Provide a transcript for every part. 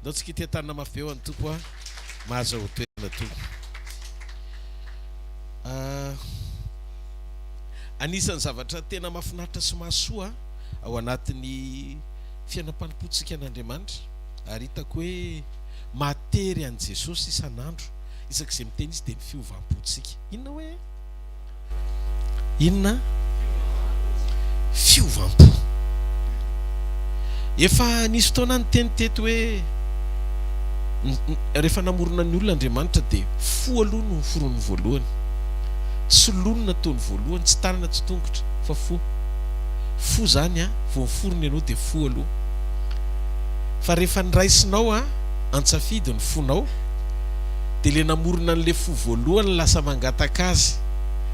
Ndao tsikitiha tanana mafy be ho an'ny Tompo ah mahazo ho toerana Tompo ah Anisan'ny zavatra tena mahafinaritra sy mahasoa ao anatin'ny fiainam-panompoantsika an'Andriamanitra ary hitako hoe mahatery an'i Jesosy isan'andro isak'izay miteny Izy dia ny fiovam-pontsika. Inona hoe? Inona? Fiovam-po. Efa nisy fotoana niteny teto hoe rehefa namorona ny olona Andriamanitra dia fo aloha no noforoniny voalohany. Tsy loha no nataony voalohany, tsy tanana, tsy tongotra fa fo. Fo izany an, vao miforona ianao dia fo aloha. Fa rehefa niraisinao an, an-tsafidy ny fonao. dia le namorona an'le fo voalohany lasa mangataka azy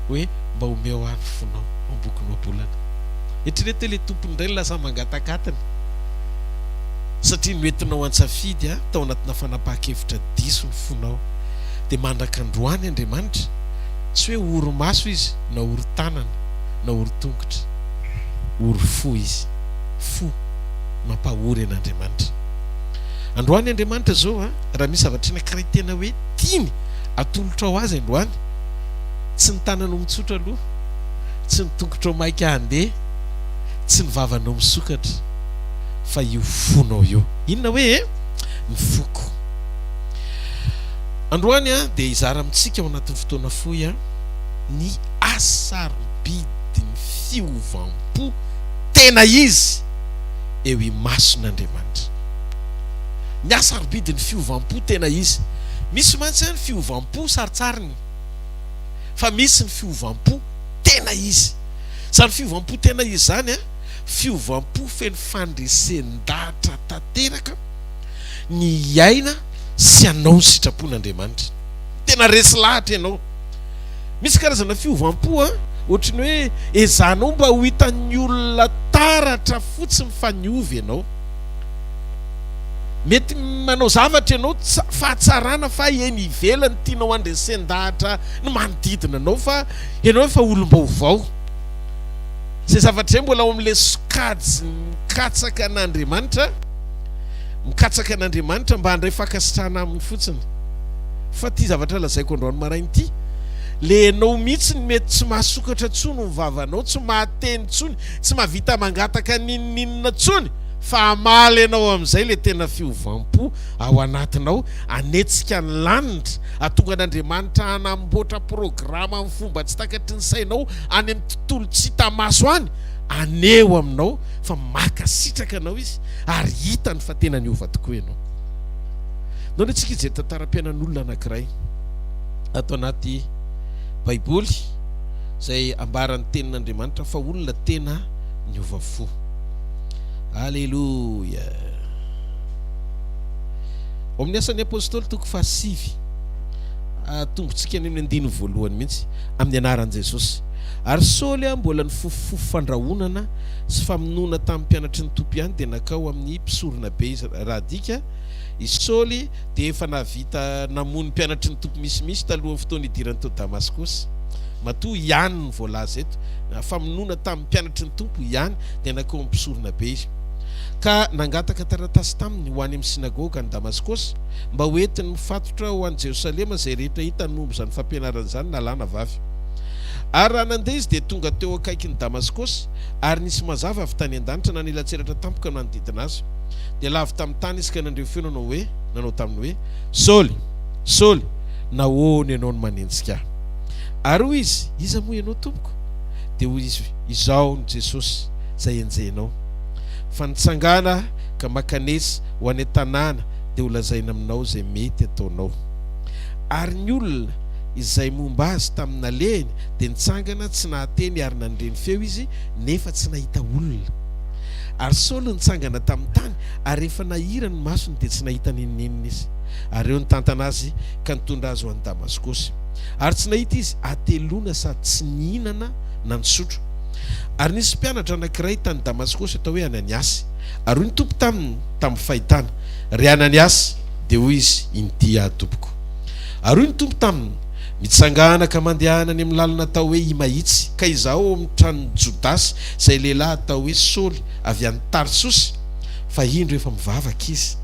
hoe mba omeo ahy ny fonao ambokinao am-bolana. Eritrereto hoe le tompony indray no lasa mangatakatiny satria noentinao an-tsafidy tao anatina fanapahan-kevitra diso ny fonao. Dia mandraka androany Andriamanitra, tsy hoe ory maso izy na ory tanana na ory tongotra. Ory fo izy. Fo. Mampahory an'Andriamanitra. Androany Andriamanitra izao a. Raha misy zavatra anankiray tena hoe tiany atolotrao azy androany, tsy ny tananao mitsotra aloha, tsy ny tongotrao maika handeha, tsy ny vavanao misokatra, fa io fonao io. Inona hoe e? Ny foko. Androany dia hizara amintsika ao anatin'ny fotoana fohy ny hasarobidin'ny fiovam-po tena izy eo imason'Andriamanitra. Miha sarobidy ny fiovam-po tena izy. Misy mantsy an ny fiovam-po sarintsariny fa misy ny fiovam-po tena izy. Izany fiovam-po tena izy izany an, fiovam-po feno fandresen-dahatra tanteraka ny hiaina sy hanao ny sitrapon'Andriamanitra. Tena resy lahatra ianao. Misy karazana fiovam-po an, ohatry ny hoe ezahanao mba ho hitan'ny olona taratra fotsiny fa niova ianao. Mety manao zavatra ianao tsy fahatsarana fa eny ivelany tianao handresen-dahatra ny manodidina anao fa ianao efa olom-baovao. Izay zavatra izay mbola ao amin'ilay sokajin'ny mikatsaka an'Andriamanitra, mikatsaka an'Andriamanitra mba handray fankasitrahana aminy fotsiny. Fa ity zavatra lazaiko androany maraina ity, ilay ianao mihitsy no mety tsy mahasokatra intsony ny vavanao, tsy mahateny intsony, Tsy mahavita mangataka n'inon'inona tsony fa hamaly anao amin'izay ilay tena fiovam-po ao anatinao, hanetsika ny lanitra, hatonga an'Andriamanitra hanamboatra programa amin'ny fomba tsy takatry ny sainao any amin'ny tontolo tsy hita maso any, haneho aminao fa mankasitraka anao Izy ary hitany fa tena niova tokoa ianao. Nao ny antsika hijery tantaram-piainan'olona anankiray ato anaty Baiboly. Izay ambaran'ny tenin'Andriamanitra fa olona tena niova fo. Aleloia! Ao amin'ny Asan'ny Apostoly toko fahasivy, atombotsika any amin'ny andininy voalohany mihitsy, amin'ny anaran'i Jesosy. Ary Saoly aho mbola nifofofofo fandrahonana sy famonoana tamin'ny mpianatry ny Tompo ihany dia nankao amin'ny mpisoronabe izy. Raha adika, i Saoly dia efa nahavita namono mpianatry ny Tompo misimisy talohan'ny fotoany hidirany tao Damaskosy. Matoa ihany ny voalaza eto, famonoana tamin'ny mpianatry ny Tompo ihany dia nankeo amin'ny mpisoronabe izy. Ka nangataka taratasy taminy ho any amin'ny synagoga any Damaskosy, mba ho entiny mifatotra ho any Jerosalema izay rehetra hitany momba izany fampianarana izany na lahy na vavy. Ary raha nandeha izy dia tonga teo akaikin'i Damaskosy, ary nisy mazava avy tany an-danitra nanelatsiratra tampoka nanodidina azy. Dia lavo tamin'ny tany izy ka nandre feo nanao hoe, nanao taminy hoe, Saoly, Saoly, nahoana ianao no manenjika Ahy? Ary hoy izy, Iza moa Ianao, Tompoko? Dia hoy izy, Izaho no Jesosy, izay enjehinao. Fa nitsangana Aho ka mankanesa ho any an-tanàna dia ho lazaina aminao izay mety ataonao. Ary ny olona izay momba Azy tamin'ny nalehany dia nitsangana tsy nahateny ary nandre ny feo izy nefa tsy nahita olona. Ary Saoly nitsangana tamin'ny tany, ary rehefa nahira ny masony dia tsy nahita n'inon'inona izy. Ary eo nitantana azy ka nitondra azy ho any Damaskosy. Ary tsy nahita izy hateloana sady tsy nihinana na nisotro. Ary nisy mpianatra anankiray tany Damaskosy atao hoe Ananiasy. Ary hoy ny Tompo taminy tamin'ny fahitana, Ry Ananiasy! Dia hoy izy, Inty aho, Tompoko. Ary hoy ny Tompo taminy, Mitsangàna ka mandehana any amin'ny lalana atao hoe Imahitsy, ka izaho ao amin'ny tranon'i Jodasy, izay lehilahy atao hoe Saoly, avy any Tarsosy. Fa indro efa mivavaka izy.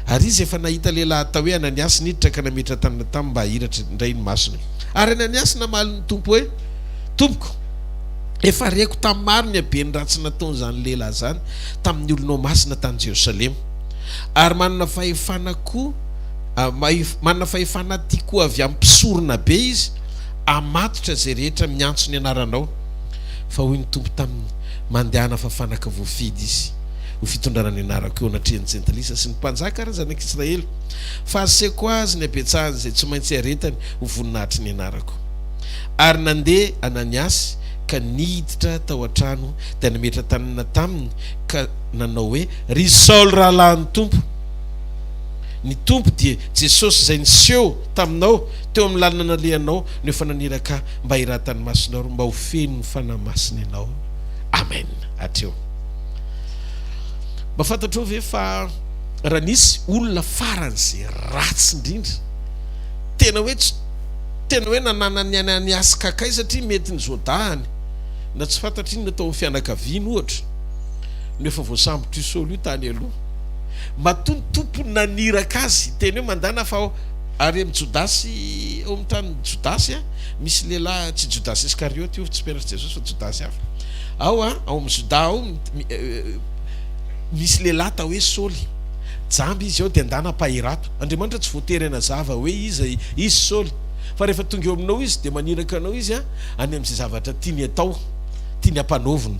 Ary izy efa nahita lehilahy atao hoe Ananiasy niditra ka nametra-tanana taminy mba hahiratra indray ny masony. Ary Ananiasy namaly ny Tompo hoe, Tompoko, efa reko tamin'ny maro ny haben'ny ratsy nataon'izany lehilahy izany tamin'ny olonao masina tany Jerosalema, ary manana fahefana koa, Manana fahefana tia koa avy amin'ny mpisorona be izy, hamatotra izay rehetra miantso ny anaranao. Fa hoy ny Tompo taminy, Mandehana fa fanaka voafidy izy ho fitondrana ny anarako eo anatrehan'ny jentilisa sy ny mpanjaka ary ny zanak'Israely, fa asehoko azy ny habetsahany izay tsy maintsy hiaretany ho voninahitr'i ny anarako. Ary nandeha Ananiasy ka niditra tao an-trano dia nametra-tanana taminy ka nanao hoe, Ry Saoly rahalahin'ny Tompo, Ny Tompo dia Jesosy izay niseho taminao teo amin'ny lalana nalehanao no efa naniraka ahy mba hiratan'ny masony ary mba ho feno ny Fanahy Masina ianao. Amen. Hatreo. Mba fantatrao ve fa raha nisy olona faran'izay ratsy indrindra, tena hoe tsy tena hoe nananany ny ainy any askk satria mety ny zodahany na tsy fantatr'inona tao amin'ny fianakaviany ohatra no efa voasambotr'io Saoly io tany aloha. Matoa ny Tompo naniraka azy, teny hoe mandana fa ary amin'i Jodasy, ao amin'ny tanin'i Jodasy, misy lehilahy, tsy Jodasy Iskarioty io, tsy mpianatr'i Jesosy fa Jodasy hafa, ao ao amin'ny Joda ao, misy lehilahy atao hoe Saoly, jamba izy ao dia ndana mpahirato. Andriamanitra tsy voatery hanazava hoe iza izy Saoly, fa rehefa tonga eo aminao izy dia maniraka anao izy any amin'izay zavatra tiany atao, tiany hampanaovina.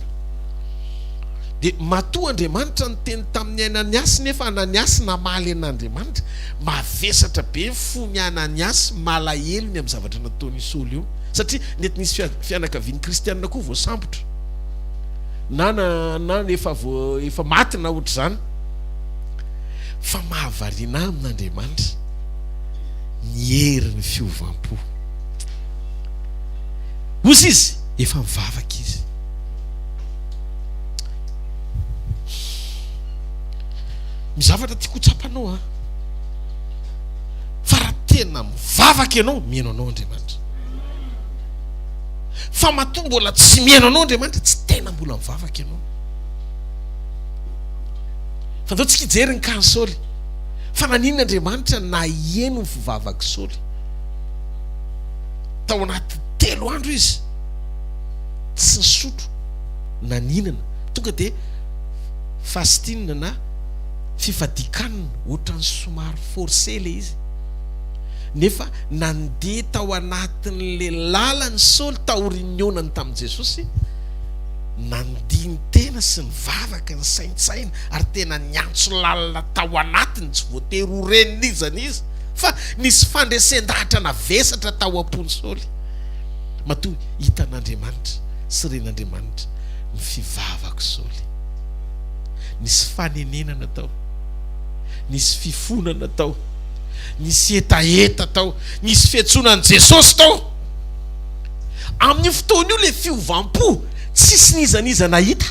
Dia matoa Andriamanitra niteny tamin'i Ananiasy nefa Ananiasy namaly an'Andriamanitra, mavesatra be ny fon'i Ananiasy, malahelo ny amin'ny zavatra nataon'i Saoly io, satria nety nisy fianakaviany kristiana koa voasambotra, na na efa efa maty na ohatr'izany, fa mahavariana ahy amin'Andriamanitra ny herin'ny fiovam-po. Hozy izy, efa mivavaka izy. Ny zavatra tiako ho tsapanao a, fa raha tena mivavaka ianao, mihaino anao Andriamanitra. Fa matoa mbola tsy mihaino anao Andriamanitra, tsy tena mbola mivavaka ianao. Fa ndao tsika hijery ny cas Saoly. Fa naninona Andriamanitra naheno ny fivavak'i Saoly? Tao anaty telo andro izy. tsy nisotro na nihinana, tonga dia fasting na fifadian-kanina, ohatran'ny somary forcé ilay izy. Nefa nandeha tao anatin'ilay lalana i Saoly taorian'ny nihaonany tamin'i Jesosy, nandini-tena sy nivavaka, nisaintsaina ary tena niantso lalina tao anatiny, tsy voatery ho ren'izany izy fa nisy fandresen-dahatra navesatra tao am-pon'i Saoly. Matoa hitan'Andriamanitra sy ren'Andriamanitra ny fivavako Saoly. Nisy fanenenana tao, nisy fifonana tao, nisy hetaheta tao, nisy fiantsoana an'i Jesosy tao. Amin'io fotoana io ilay fiovam-po tsisy n'iza n'iza nahita,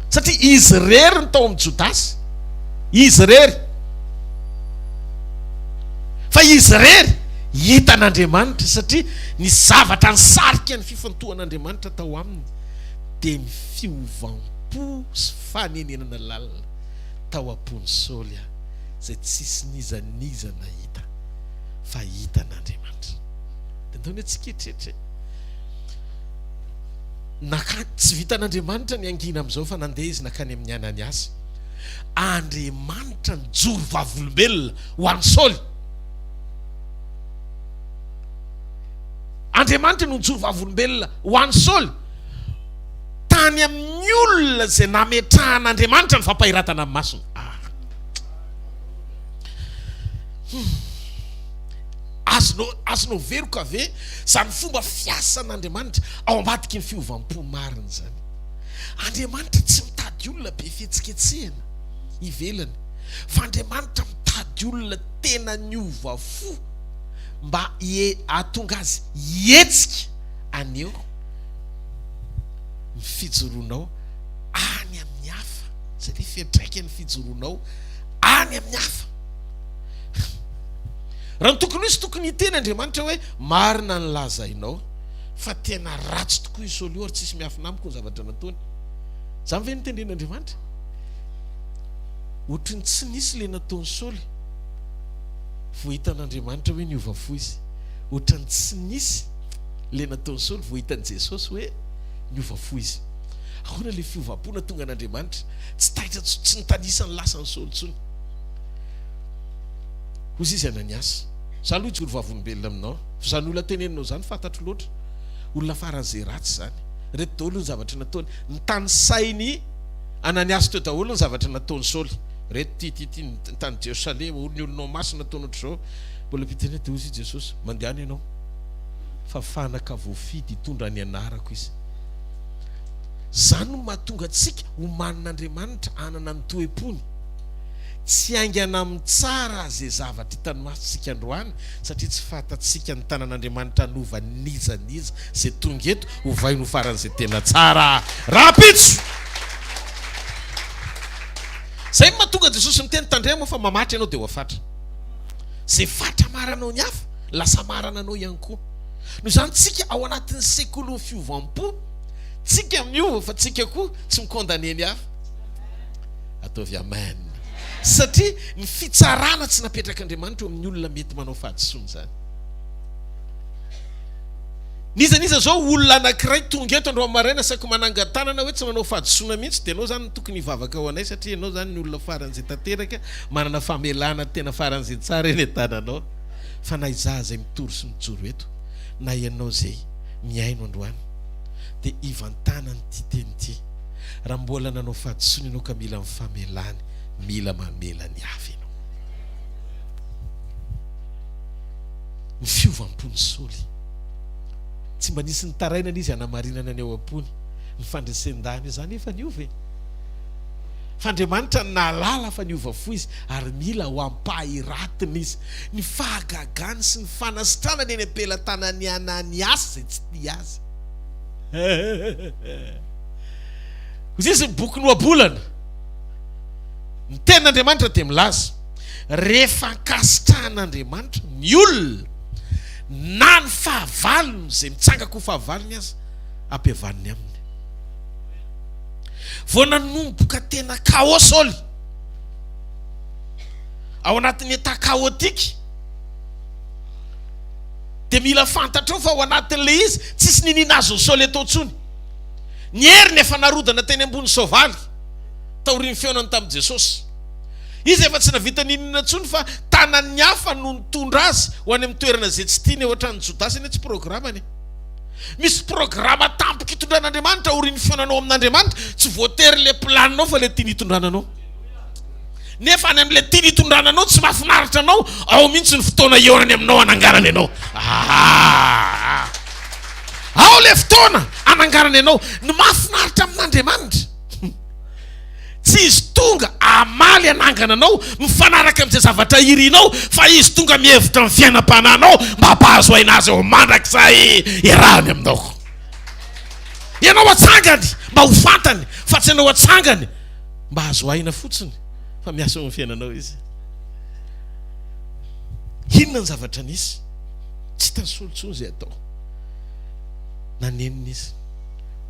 satria izy irery ny tao amin'i Jodasy, izy irery, fa izy irery. Hitan'Andriamanitra, satria ny zavatra nisarika ny fifantohan'Andriamanitra tao aminy dia ny fiovam-po sy fanenenana lalina tao am-pon'i Saoly a, izay tsisy n'iza n'iza nahita fa hitan'Andriamanitra. Dia ndao anie tsikeritreritra e! Naka, tsy vitan'Andriamanitra ny hangina amin'izao fa nandeha izy nakany amin'i Ananiasy. Andriamanitra nijoro vavolombelona ho an'i Saoly. Andriamanitra no nijoro vavolombelona ho an'i Saoly tany amin'ny olona izay nametrahan'Andriamanitra ny fampahiratana amin'ny masony. Ah. Hmm. Azonao azonao veroka ve izany fomba fiasan'Andriamanitra ao ambadiky ny fiovam-po marina izany? Andriamanitra tsy mitady olona be fihetsiketsehana ivelany fa Andriamanitra mitady olona tena niova fo mba hahatonga azy hihetsika anio ny fijoroanao any amin'ny hafa, satria fiantraikan'ny fijoroanao any amin'ny hafa. Raha ny tokony ho izy, tokony hiteny Andriamanitra hoe, Marina ny lazainao, fa tena ratsy tokoa i Saoly io, ary tsisy miafina amiko ny zavatra nataony. Izany ve no tendren'Andriamanitra? Ohatry ny tsy nisy ilay nataon'i Saoly. Vao hitan'Andriamanitra hoe niova fo izy. Ohatry ny tsy nisy ilay nataon'i Saoly vao hitan'i Jesosy hoe niova fo izy. Ahoana ilay fiovam-po nahatonga an'Andriamanitra tsy taitra intsony, tsy nitanisa ny lasan'i Saoly intsony? Hozy izy Ananiasy, Izaho aloha hijoro vavolombelona aminao, fa izany olona teneninao izany fantatro loatra. Olona faran'izay ratsy izany. Ireto daholo ny zavatra nataony, nitanisainy. Ananiasy teo daholo ny zavatra nataon'i Saoly reto ty ty ty ny tany Jerosalema hono ny olonao masina ataonao otrzao mbola mpiteny de hozy i Jesosy mandehana ianao fa fanaka voafidy hitondra ny anarako izy zany no mahatonga antsika ho manin'Andriamanitra hanana ny toepony tsy haingana amin'ny tsara ze zavatra hitany masontsika androany satria tsy fantatsika ny tanan'Andriamanitra hanova n'iza n'iza ze tonga eto Ovainy ho faran'izay tena tsara rahampitso! Izay no mahatonga Jesosy niteny, Tandremo aho fa mamaty ianao dia ho afatra. Izay fatra maranao ny hafa, lasa marana anao ihany koa. Noho izany tsika ao anatin'ny sekolin'ny fiovam-po, tsika miova fa tsika koa tsy mi-condamner ny hafa. Ataovy Amen. Satria ny fitsarana tsy napetrak'Andriamanitra eo amin'ny olona mety manao fahadisoana izany. N'iza n'iza zao olona anakiray tonga eto androany maraina saky manangan-tanana hoe tsy manao fahadisoana mihitsy dia enao zany no tokony hivavaka ho anay satria enao zany ny olona farany izay tanteraka manana famelana tena farany izay tsara eny an-tananao fa na izaho izay mitory sy mijoro eto na enao izay mihaino androany dia hivantanana ity teny ity raha mbola nanao fahadisoana enao ka mila ny famelany mila mamela ny avy enao ny fiovam-pon'i Saoly. Tsy mba nisy nitarainana izy hanamarinana ny ao am-pony ny fandresen-dahiny. Izaho anefa niova e! Fa Andriamanitra no nahalala fa niova fo izy, ary mila ho ampahiratiny izy. Ny fahagagany sy ny fanasitranany eny am-pelatanan'i Ananiasy izay tsy tia azy. Hoy izy ny bokin'ny Ohabolana, Ny Tenin'Andriamanitra dia milaza. Rehefa ankasitrahan'Andriamanitra ny olona na ny fahavalony, izay mitsangako ho fahavalony aza, ampihavaniny aminy. Vao nanomboka tena chaos Saoly, ao anatin'ny état chaotique, dia mila fantatrao fa ao anatin'ilay izy, tsisy niniana azon'i Saoly atao intsony. Ny heriny efa narodana teny ambony soavaly, taorian'ny fihaonany tamin'i Jesosy. Izy efa tsy navita n'inon'inona intsony fa tanan'ny hafa no nitondra azy ho any amin'ny toerana izay tsy tiany, ao an-tranon'i Jodasy anie tsy programany e! Misy programa tampoka itondran'Andriamanitra aorian'ny fihaonanao amin'Andriamanitra, tsy voatery ilay planinao fa ilay tiany hitondrana anao. Nefa any amin'ilay tiany hitondrana anao tsy mahafinaritra anao, ao mihitsy ny fotoana hihaonany aminao hananganany anao. Ah! Ao ilay fotoana hananganany anao, ny mahafinaritra amin'Andriamanitra. Tsy izy tonga hamaly hanangana anao mifanaraka amin'izay zavatra irinao fa izy tonga mihevitra ny fiainam-panahinao mba hampahazo aina azy eo mandrakizay iarahany aminao. Ianao hatsangany mba ho fantany fa tsy ianao hatsangany mba hahazo aina fotsiny fa miasa eo amin'ny fiainanao izy. Inona ny zavatra nisy? Tsy hitany solo intsony izay atao. Nanenina izy.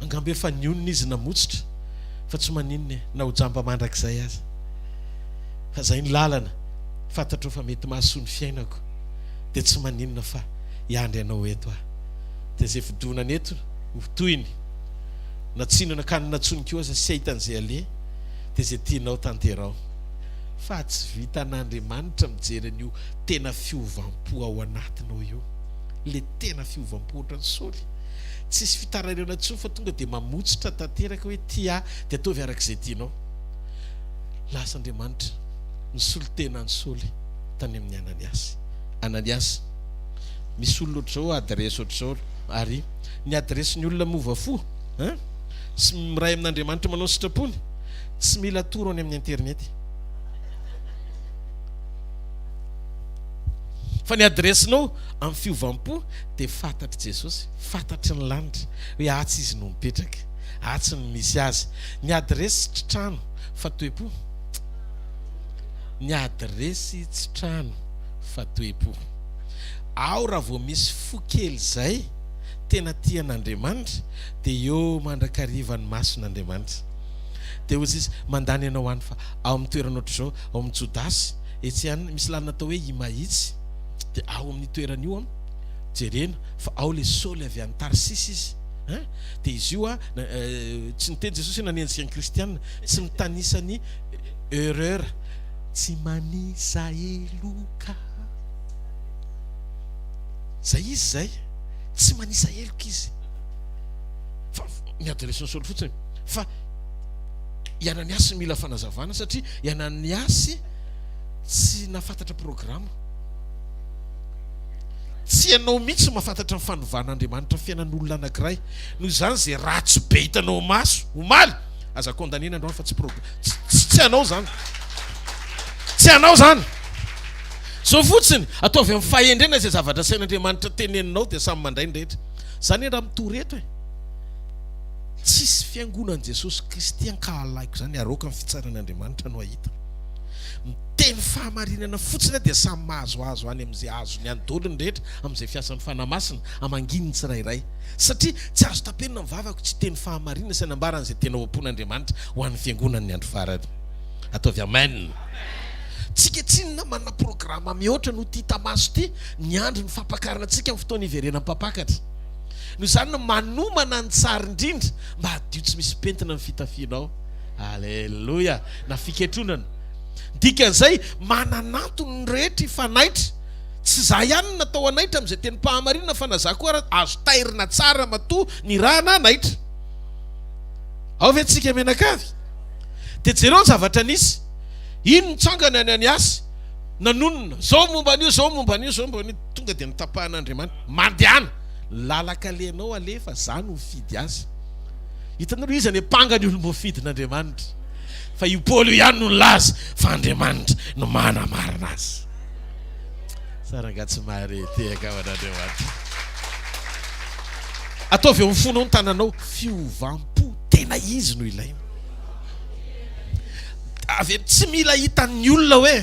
Angamba efa nionona izy namotsitra. Fa tsy maninona e, na ho jamba mandrakizay aza. Fa zay ny lalana, fantatro fa mety mahasoa ny fiainako, dia tsy maninona fa hiandry anao eto aho. Dia zay fidonana eto ho tohiny, na tsino na kanina ntsony koa aza sy ahitany zay aleha, dia zay tianao tanteraho. Fa tsy vitan'Andriamanitra mijery an'io tena fiovam-po ao anatinao io, le tena fiovam-po ohatran'i Saoly, Tsisy fitarairana intsony fa tonga dia mamotsitra tanteraka hoe tia ahy dia ataovy araka izay tianao. Lasa Andriamanitra nisolo tena an'i Saoly tany amin'i Ananiasy. Ananiasy, misy olona ohatr'izao adiresy ohatr'izao ary ny adiresin'ny olona miova fo hein! Tsy miray amin'Andriamanitra manao ny sitrapony, tsy mila atoro any amin'ny interinety. Fa ny adiresinao amin'ny fiovam-po dia fantatr'i Jesosy, fantatry ny lanitra hoe atsy Izy no mipetraka, atsy no misy Azy. Ny adiresy tsy trano fa toe-po. Ny adiresy tsy trano fa toe-po. Ao raha vao misy fo kely izay tena tia an'Andriamanitra dia eo mandrakariva ny mason'Andriamanitra. Dia hoy Izy, mandany ianao any fa ao amin'ny toerana ohatr'izao, ao amin'ny Jodasy, etsy any misy lalana atao hoe i Mahitsy, dia ao amin'ny toerana io an, Jerena fa ao le Saoly avy any Tarsisy izy hein de izy io a tsy niteny Jesosy hoe nanenjika ny kristiana tsy mitanisa ny erreur tsy manisa heloka zay izy zay tsy manisa heloka izy fa ny adressin'ny Saoly fotsiny fa i Ananiasy mila fanazavana satria i Ananiasy tsy nafantatra programa Tsy ianao mihitsy no mahafantatra ny fanovan'Andriamanitra fiainan'olona anankiray. Noho izany izay ratsy be hitanao ho maso omaly, aza condamner ny androany fa tsy problème. Tsy tsy anao izany. Tsy anao izany. Zao fotsiny, ataovy amin'ny fahendrena izay zavatra asain'Andriamanitra teneninao dia samy mandray ny rehetra. Izany anie raha mitory eto e. Tsisy fiangonan'i Jesosy Kristy ankahalaiko izany aroaka ny fitsaran'Andriamanitra no hahita. Miteny fahamarinana fotsiny aho dia samy mahazoazo any amin'izay azony any daholo ny rehetra amin'izay fiasan'ny Fanahy Masina hamangiany ny tsirairay. Satria tsy azo tapenina ny vavako tsy hiteny fahamarinana sy hanambara an'izay tena ao am-pon'Andriamanitra ho an'ny fiangonan'ny andro farany. Ataovy Amen. Tsika tsinona manana programa mihoatra noho ity hita maso ity, miandry ny fampakarana antsika amin'ny fotoana hiverenan'ny mpampakatra. Noho izany no manomana ny tsara indrindra mba hadio tsy misy pentina ny fitafianao. Aleloia. na fiketronana. Ny dikan'izay, manan'antony ny rehetra hifanaitra. Tsy izaho ihany no natao hanaitra amin'izay tenim-pahamarinana fa na izaho koa ara azo tairina tsara matoa nirahana hanaitra. Ao ve tsika mianakavy? Dia jereo ny zavatra nisy. Iny nitsanga ny Ananiasy, nanonona, zao momba an'io, zao momba an'io, zao momba an'io, tonga dia notapahan'Andriamanitra. Mandehana! Lalaka alenao aleha fa izaho no mifidy azy. Hitanareo, iza ny ampanga ny olom-boafidin'Andriamanitra? Fa io Paoly io ihany no nilaza fa Andriamanitra no manamarina azy. Sa rangaha tsy mahare tehaka ao an'Andriamanitra? Ataovy eo amin'ny fonao ny tananao, fiovam-po tena izy no ilaina. Avy eo tsy mila hitan'ny olona hoe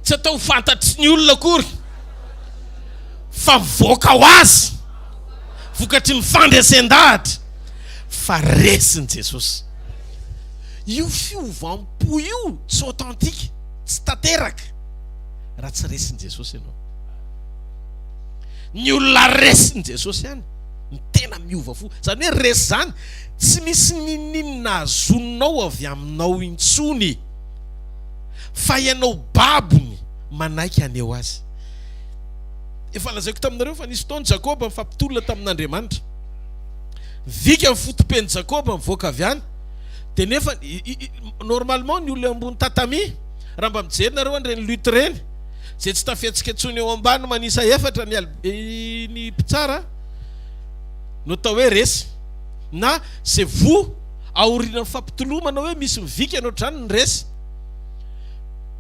tsy atao fantatry ny olona akory fa mivoaka ho azy vokatry ny fandresen-dahatra. fa resin'i Jesosy. Io fiovam-po io tsy authentique, tsy tanteraka raha tsy resin'i Jesosy ianao. Ny olona resin'i Jesosy ihany ny tena miova fo. Izany hoe resy izany tsy misy ninininina azonao avy aminao intsony fa ianao babony manaiky aneo azy. Efa lazaiko taminareo fa nisy fotoana Jakoba mifampitolona tamin'Andriamanitra. Vika ny fotopen'i Jakoba mivoaka avy any dia nefa normalement ny olona eo ambony tatami raha mba mijery nareo an'ireny lutte ireny izay tsy tafihetsika intsony eo ambany manisa efatra ny ny mpitsara no atao hoe resy na c'est vous aorianan'ny fampitolomana hoe misy mivika ny ohatr'izany ny resy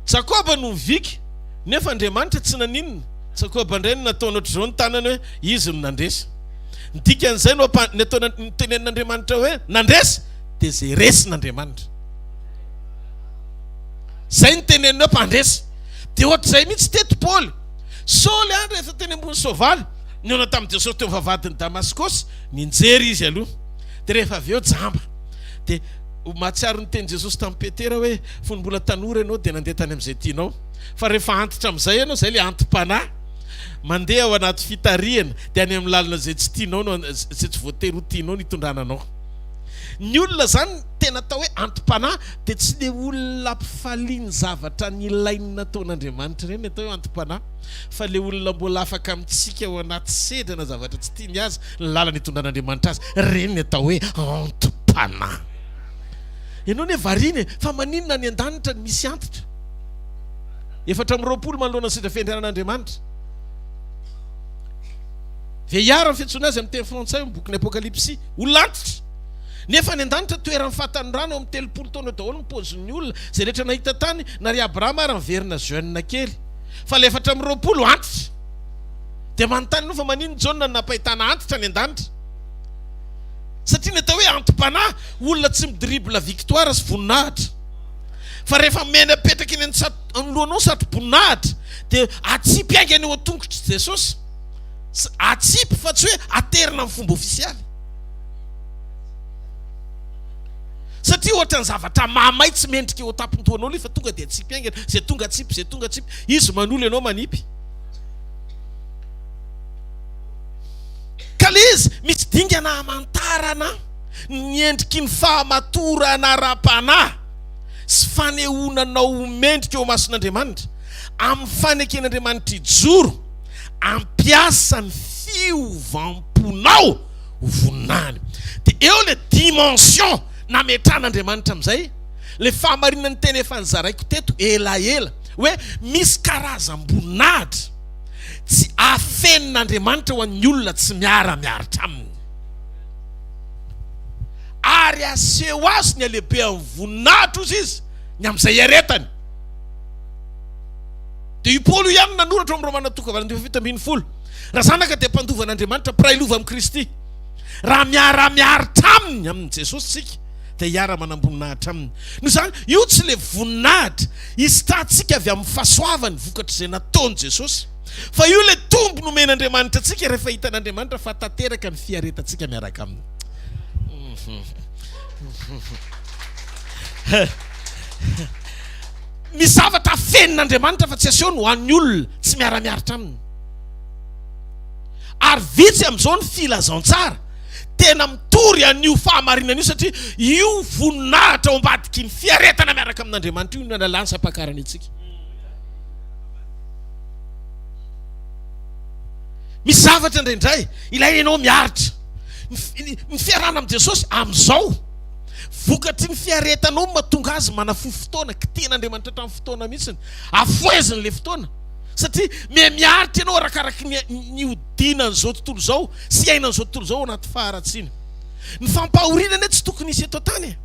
Jakoba no mivika nefa Andriamanitra tsy naninona Jakoba indray no nataony ohatr'izao ny tanany hoe izy no nandresy Ny dikan'izay no ampa, ny ataona, ny tenenin'Andriamanitra hoe nandresy dia izay resin'Andriamanitra. Izay ny teneniny hoe mpandresy. Dia ohatr'izay mihitsy teto Paoly. Saoly an, rehefa teny ambony soavaly, nihaona tamin'i Jesosy teo vavahadin'i Damaskosy, nianjera izy aloha. Dia rehefa avy eo jamba. Dia mahatsiaro ny tenin'i Jesosy tamin'i Petera hoe fony mbola tanora ianao dia nandeha tany amin'izay tianao. Fa rehefa antitra amin'izay ianao, izay ilay anti-panahy. Mandeha ao anaty fitarihana, dia any amin'ny lalana izay tsy tianao no, izay tsy voatery ho tianao no hitondrana anao. Ny olona izany tena atao hoe anti-panahy dia tsy ilay olona ampifalia ny zavatra nilainy nataon'Andriamanitra ireny ny atao hoe anti-panahy, fa ilay olona mbola afaka mitsika ao anaty sedra na zavatra tsy tiany aza ny lalana itondran'Andriamanitra azy, ireny ny atao hoe anti-panahy. Ianao anie variana e, fa maninona any an-danitra no misy antitra? Efatra amby roapolo manoloana ny Seza Fiandrianan'Andriamanitra. Veiar ny fiantsoana azy amin'ny teny frantsay ao amin'ny bokin'ny Apokalypsy. Olon-antitra. Nefa any an-danitra toeran'ny fahatanorana eo amin'ny telopolo taona eo daholo ny paozin'ny olona izay rehetra nahita tany, na ry Abrahama ary niverina jeune kely. Fa ilay efatra amby roapolo antitra. Dia manontany ianao fa maninona i Jaona no nampahitana antitra any an-danitra? Satria ny atao hoe anti-panahy, olona tsy mi-dribble victoire sy voninahitra. Fa rehefa miaina mipetraka eny anoloanao satroboninahitra dia atsipy haingana eo an-tongotr'i Jesosy. Atsipy fa tsy hoe aterina amin'ny fomba ofisialy. Satria ohatran'ny zavatra mahamay tsy mendrika eo an-tampon-dohanao ilay fa tonga dia atsipy haingana, izay tonga atsipy, izay tonga atsipy. Izy manolo ianao manipy. Ka ilay izy misy dingana hamantarana. ny endriky ny fahamatorana ara-panahy sy fanehoana anao ho mendrika eo imason'Andriamanitra, amin'ny faneken'Andriamanitra hijoro, hampiasa ny fiovam-ponao ho voninahiny. Dia eo ilay dimension nametran'Andriamanitra amin'izay, ilay fahamarinan'ny teny efa nozaraiko teto elaela, hoe misy karazam-boninahitra tsy afenin'Andriamanitra ho an'ny olona tsy miara-miaritra Aminy. Ary haseho azy ny halehibehan'ny voninahitro, hoy izy, ny amin'izay iaretany. Dia i Paoly io ihany no nanoratra ao amin'ny Romana toko fahavalon'ny fahafito ambin'ny folo, Raha zanaka dia mpandova an'Andriamanitra, mpiray lova amin'i Kristy. Raha miara-miaritra aminy, amin'i Jesosy, isika, dia hiara-manam-boninahitra aminy. Noho izany, io tsy ilay voninahitra isitrahantsika avy amin'ny fahasoavany vokatr'izay nataon'i Jesosy. Fa io ilay tombo nomen'Andriamanitra antsika rehefa hitan'Andriamanitra fa tanteraka ny fiaretantsika miaraka aminy. Misy zavatra afenin'Andriamanitra fa tsy asehony ho an'ny olona tsy miara-miaritra aminy. Ary vitsy amin'izao ny filazantsara tena mitory an'io fahamarinana io satria io voninahitra ao ambadiky ny fiaretana miaraka amin'Andriamanitra io no analany sy ampakarany antsika. Misy zavatra indraindray ilaina ianao miaritra. Ny fiarahana amin'i Jesosy amin'izao, vokatry ny fiaretanao no mahatonga azy manafohy fotoana, kitihan'Andriamanitra hatramin'ny fotoana mihitsiny, afoheziny ilay fotoana. Satria miha miaritra ianao arakaraky ny nihodinan'izao tontolo izao sy iainan'izao tontolo izao anaty faharatsiana. Ny fampahoriana anie tsy tokony hisy eto an-tany e!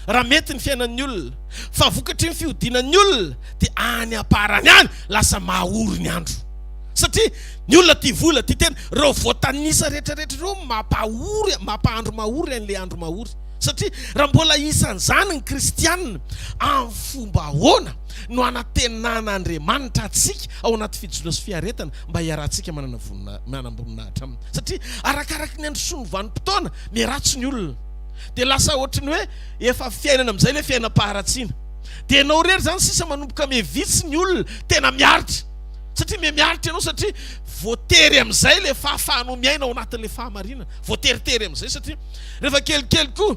Raha mety ny fiainan'ny olona. fa vokatry ny fihodinan'ny olona dia any am-parany any lasa maha ory ny andro satria ny olona tia vola, tia tena, ireo voatanisa rehetra rehetra ireo no mampahory, mampahandro mahory an'ilay andro mahory satria raha mbola isan'izany ny kristiana amin'ny fomba ahoana no hanantenana Andriamanitra antsika ao anaty fijona sy fiaretana mba hiarahantsika manana vonina, manam-boninahitra aminy satria arakaraky ny androsoan'ny vanim-potoana miharatsy ny olona dia lasa ohatry ny hoe Efa fiainana amizay le fiainam-paharatsiana. De enao rery zany sisa manomboka mie vitsy ny olona tena miaritra. Satria mie miaritra enao satria voatery amizay le fahafahanao miaina ao anatinle fahamarinana. Voateritery amizay satria refa kelikely ko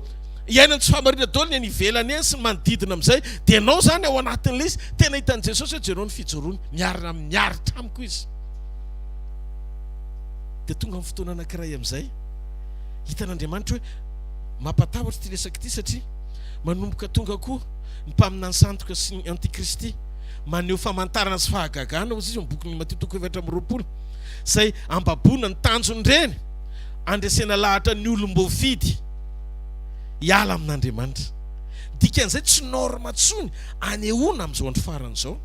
iainany tsy fahamarinana daoly ny any ivelany any sy ny manodidina amizay. De enao zany ao anatinle izy tena hitany Jesosy hoe jereo ny fijoroany miarina miaritra amiko izy. De tonga am fotoana anakiray amizay hitan'Andriamanitra hoe. Mampatahotra ity resaka ity satria manomboka tonga koa ny mpaminany sandoka sy ny antikristy maneho famantarana sy fahagagana hozy izy eo bokin'ny Matio toko efatra amby roapolo izay ambaboana ny tanjon'ireny andresena lahatra ny olom-boafidy hiala amin'Andriamanitra. Dikan'izay tsy norme tsony anehoana amin'izao andro farany izao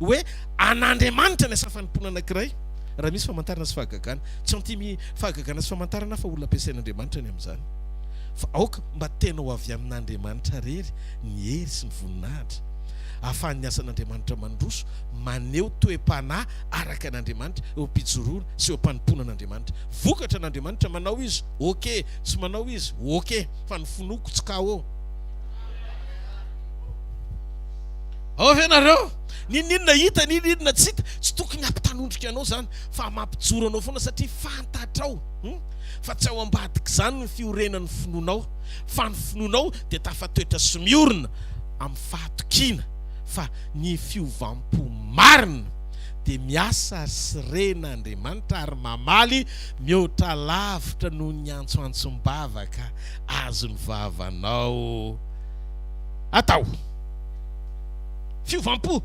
hoe an'Andriamanitra ny asa fanompoana anankiray raha misy famantarana sy fahagagana. Tsy anti Fahagagana sy famantarana fa olona ampiasain'Andriamanitra ny amin'izany. Fa aoka mba tena ho avy amin'Andriamanitra rery ny hery sy ny voninahitra. Ahafahan'ny asan'Andriamanitra mandroso maneho toe-panahy araka an'Andriamanitra eo am-pijoroana sy eo am-panompoana an'Andriamanitra. Vokatra an'Andriamanitra, manao izy, ok, tsy manao izy, ok, fa ny finoako tsy KO. Ao ve nareo? N'inon'inona hita, n'inon'inona tsy hita, tsy tokony hampitanondrika anao izany. fa mampijoro anao foana satria fantatrao fa tsy ao ambadik'izany ny fiorenan'ny finoanao fa ny finoanao dia tafatoetra sy miorina amin'ny fahatokiana fa ny fiovam-po marina dia miasa sy rena Andriamanitra ary mamaly mihoatra lavitra noho ny antsoantsom-bavaka azon'ny vavanao atao fiovam-po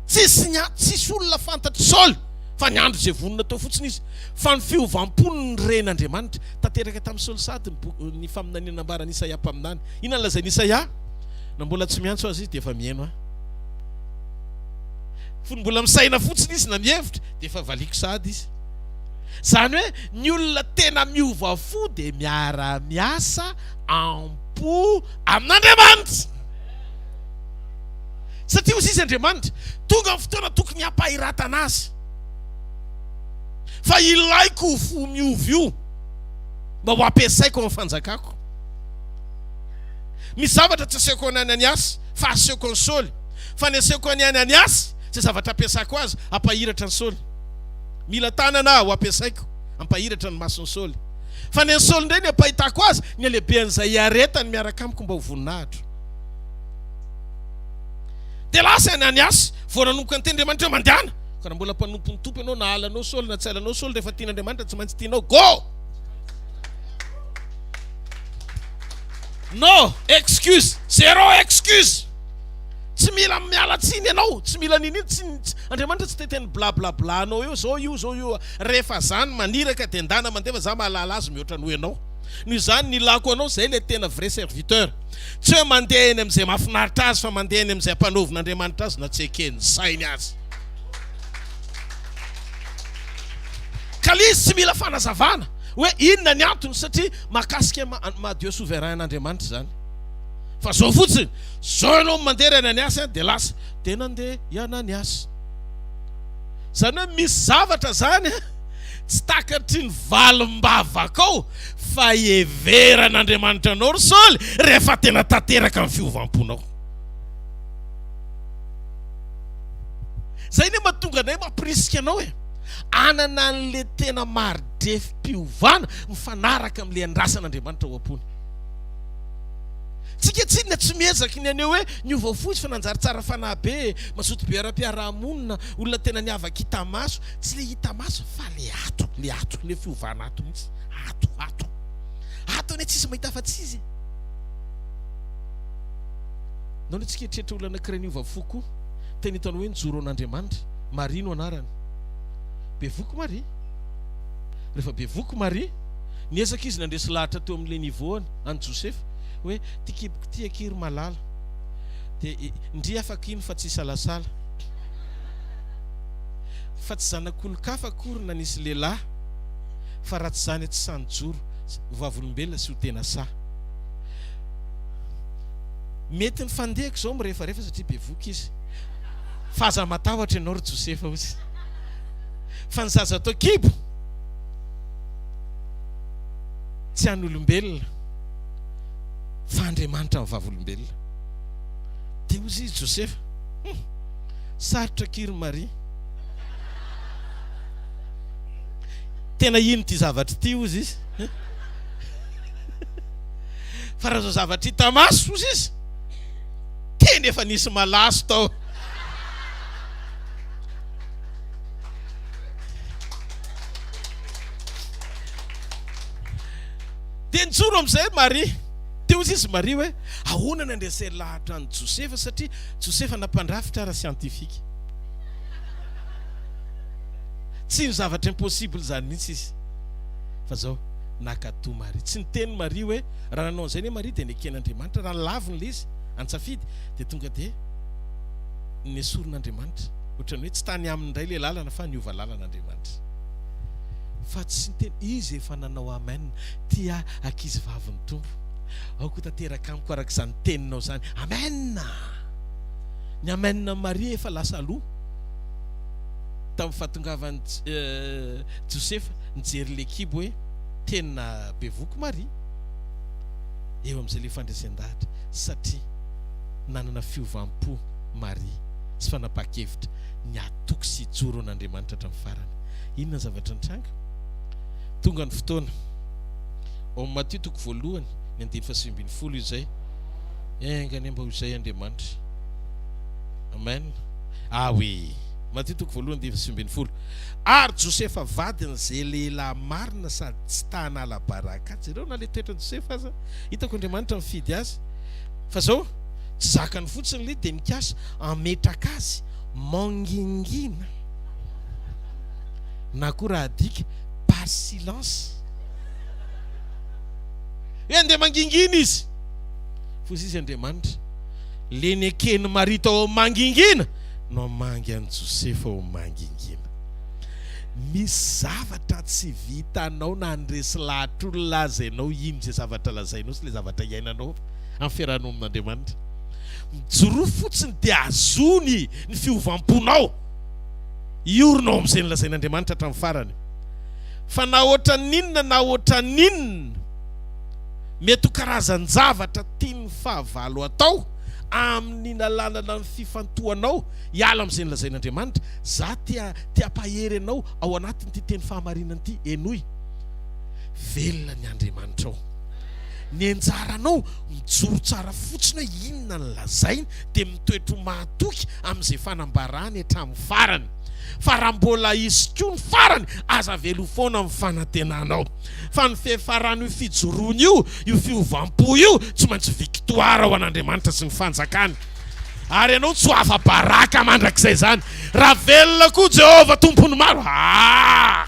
tsisy ny tsisy olona fantatr'i Saoly fa niandry izay vonona teo fotsiny izy, fa ny fiovam-pony ny ren'Andriamanitra. Tanteraka tamin'i Saoly sahady ny faminaniana nambaran'i Isaia mpaminany. Inona no lazain'i Isaia? Na mbola tsy miantso aza izy dia efa miheno ahy. Fony mbola misaina fotsiny izy na mihevitra dia efa valiako sahady izy. Izany hoe ny olona tena miova fo dia miara-miasa am-po amin'Andriamanitra. Satria hoy izy, Andriamanitra, tonga ny fotoana tokony hampahiratana azy, fa ilaiko io fo miova io mba ho ampiasaiko amin'ny fanjakako. Misy zavatra tsy asehoko an'i Ananiasy fa asehoko an'i Saoly, fa ny asehoko an'i Ananiasy izay zavatra ampiasako azy hampahiratra an'i Saoly. Mila tanana aho ampiasaiko hampahiratra ny mason'i Saoly, fa ny an'i Saoly indray ny ampahitako azy ny halehibehan'izay iaretany miaraka amiko mba ho voninahitro. Dia lasa i Ananiasy, vao nanomboka niteny Andriamanitra hoe mandehana. Ka raha mbola mpanompon'ny Tompo ianao, na halanao Saoly na tsy halanao Saoly, rehefa tian'Andriamanitra tsy maintsy tianao. Go! No excuse, zero excuse. Tsy mila miala tsiny ianao, tsy mila nini, tsy, Andriamanitra tsy te teny bla bla bla anao eo, zao io, zao io. Rehefa zany maniraka dia ndana mandefa, za mahalala azy mihoatra noho ianao. Noho izany nilako anao, zay le tena vrai serviteur. Tsy hoe mandeha eny amin'izay mahafinaritra azy fa mandeha eny amin'izay ampanovin'Andriamanitra azy na tsy eken'ny sainy aza. Ka le izy tsy mila fanazavana hoe inona ny antony satria mahakasika ma Dieu souverain an'Andriamanitra izany. Fa zao fotsiny, zao ianao no mandeha ry Ananiasy an, dia lasa dia nandeha i Ananiasy. Izany hoe misy zavatra izany an. Tsy takatry ny valim-bavakao fa heveran'Andriamanitra anao ry Saoly rehefa tena tanteraka ny fiovam-ponao. Izay anie mahatonga anay mampirisika anao e, hanana an'le tena maridrefim-piovana mifanaraka amin'le andrasan'Andriamanitra ho am-pony. Tsika tsinona tsy miezaky ny haneho hoe niova fo izy fa nanjary tsara fanahy be, mazoto be ara-piaraha-monina, olona tena niavaka hita maso. Tsy le hita maso fa le ato, le ato, le fiovana ato mihitsy, ato, ato. Ato anie tsisy mahita afa-tsy Izy e! Nao le tsy keritreritra olona anankiray niova fo koa, teo ny ataonao hoe nijoro ho an'Andriamanitra, Maria no anarany. Bevoky Maria. Rehefa bevoky Maria, niezaka Izy nandresy lahatra teo amin'le niveau-ny an'i Josefa, hoe ty kiboko ty akia ry malala, de ndry afaka iny fa tsy hisalasala. fa tsy zanak'olon-kafa akory na nisy lehilahy fa raha tsy izany tsy sahy nijoro ho vavolombelona sy ho tena sahy. Mety ny fandehako izao mirefarefa satria bevoka izy fa aza matahotra ianao ry Josefa hozy fa ny zaza ato an-kibo tsy an'olombelona fa Andriamanitra ny vavolombelona. Dia hozy izy Josefa. Sarotra akia ry Maria. Tena ino ity zavatra ity hozy izy. Fa raha izao zavatra hita maso hozy izy. Tena efa nisy malaso tao. Dia nijoro amin'izay Maria. Dia hozy izy Maria hoe ahoana no handreseny lahatra an'i Josefa satria Josefa na mpandrafitra ara siantifika. Tsy ho zavatra impossible izany mihitsy izy. Fa izao, nakato Maria. Tsy niteny Maria hoe, raha nanao an'izay anie Maria dia neken'Andriamanitra. Raha nilavina ilay izy, an-tsafidy, dia tonga dia nesorin'Andriamanitra. Ohatran'ny hoe tsy tany aminy indray ilay lalana fa niova lalana Andriamanitra. Fa tsy niteny, izy efa nanao amen, tia ankizivavy ny Tompo. Aoka ho tanteraka amiko araka izany teninao izany. Amen! Ny amen an'i Maria efa lasa aloha tamin'ny fahatongavan'i Josefa nijery ilay kibo hoe tena bevoky Maria. Eo amin'izay ilay fandresen-dahatra satria nanana fiovam-po Maria sy fanapaha-kevitra ny hatoky sy hijoro an'Andriamanitra hatramin'ny farany. Inona ny zavatra nitranga? Tonga ny fotoana. Ao amin'ny Matio toko voalohany, ny andininy fahasivy ambin'ny folo, izay. Enga anie mba ho izay Andriamanitra. Amen. Ah oui! Matio toko voalohany, andininy fahasivy ambin'ny folo. Ary Josefa vadin'izay lehilahy marina sady tsy ta hanala baraka. Jereo na ilay toetran'i Josefa aza. Hitako Andriamanitra mifidy azy. Fa izao, tsy zakany fotsiny ilay izy dia mikasa hametraka azy mangingina, na koa raha adika par silence. Hoe andeha mangingina izy. F'hozy izy Andriamanitra, le neken'i Maria tao amin'ny mangingina no hamangy an'i Josefa ho mangingina. Misy zavatra tsy vitanao na handresy lahatr'olona aza ianao, ino izay zavatra lazainao sy le zavatra iainanao amin'ny fiarahanao amin'Andriamanitra. Mijoroa fotsiny dia azony ny fiovam-ponao. Hiorina ao amin'izay nolazain'Andriamanitra hatramin'ny farany. Fa na ohatran'inona na ohatran'inona, mety ho karazan-javatra tian'ny fahavalo atao amin'ny nalanana ny fifantohanao hiala amin'izay nolazain'Andriamanitra. Za tia te hampahery anao ao anatin'ity teny fahamarinana ity, henoy, Velona ny Andriamanitrao. Ny anjaranao mijoro tsara fotsiny hoe inona ny lazainy dia mitoetro mahatoky amin'izay fanambarany hatramin'ny farany. fa raha mbola hisy koa ny farany aza velao foana amin'ny fanantenanao fa ny fiafaran'io fijoroana io, io fiovam-po io tsy maintsy victoire ho an'Andriamanitra sy ny fanjakany ary ianao tsy ho afa-baraka mandrakizay izany raha velona koa Jehovah Tompon'ny maro aah!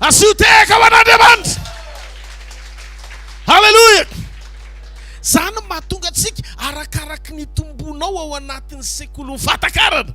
Asio tehaka ho an'Andriamanitra! Haleloia! Izany no mahatonga antsika arakaraky ny tombonao ao anatin'ny sekolin'ny fahatakarana.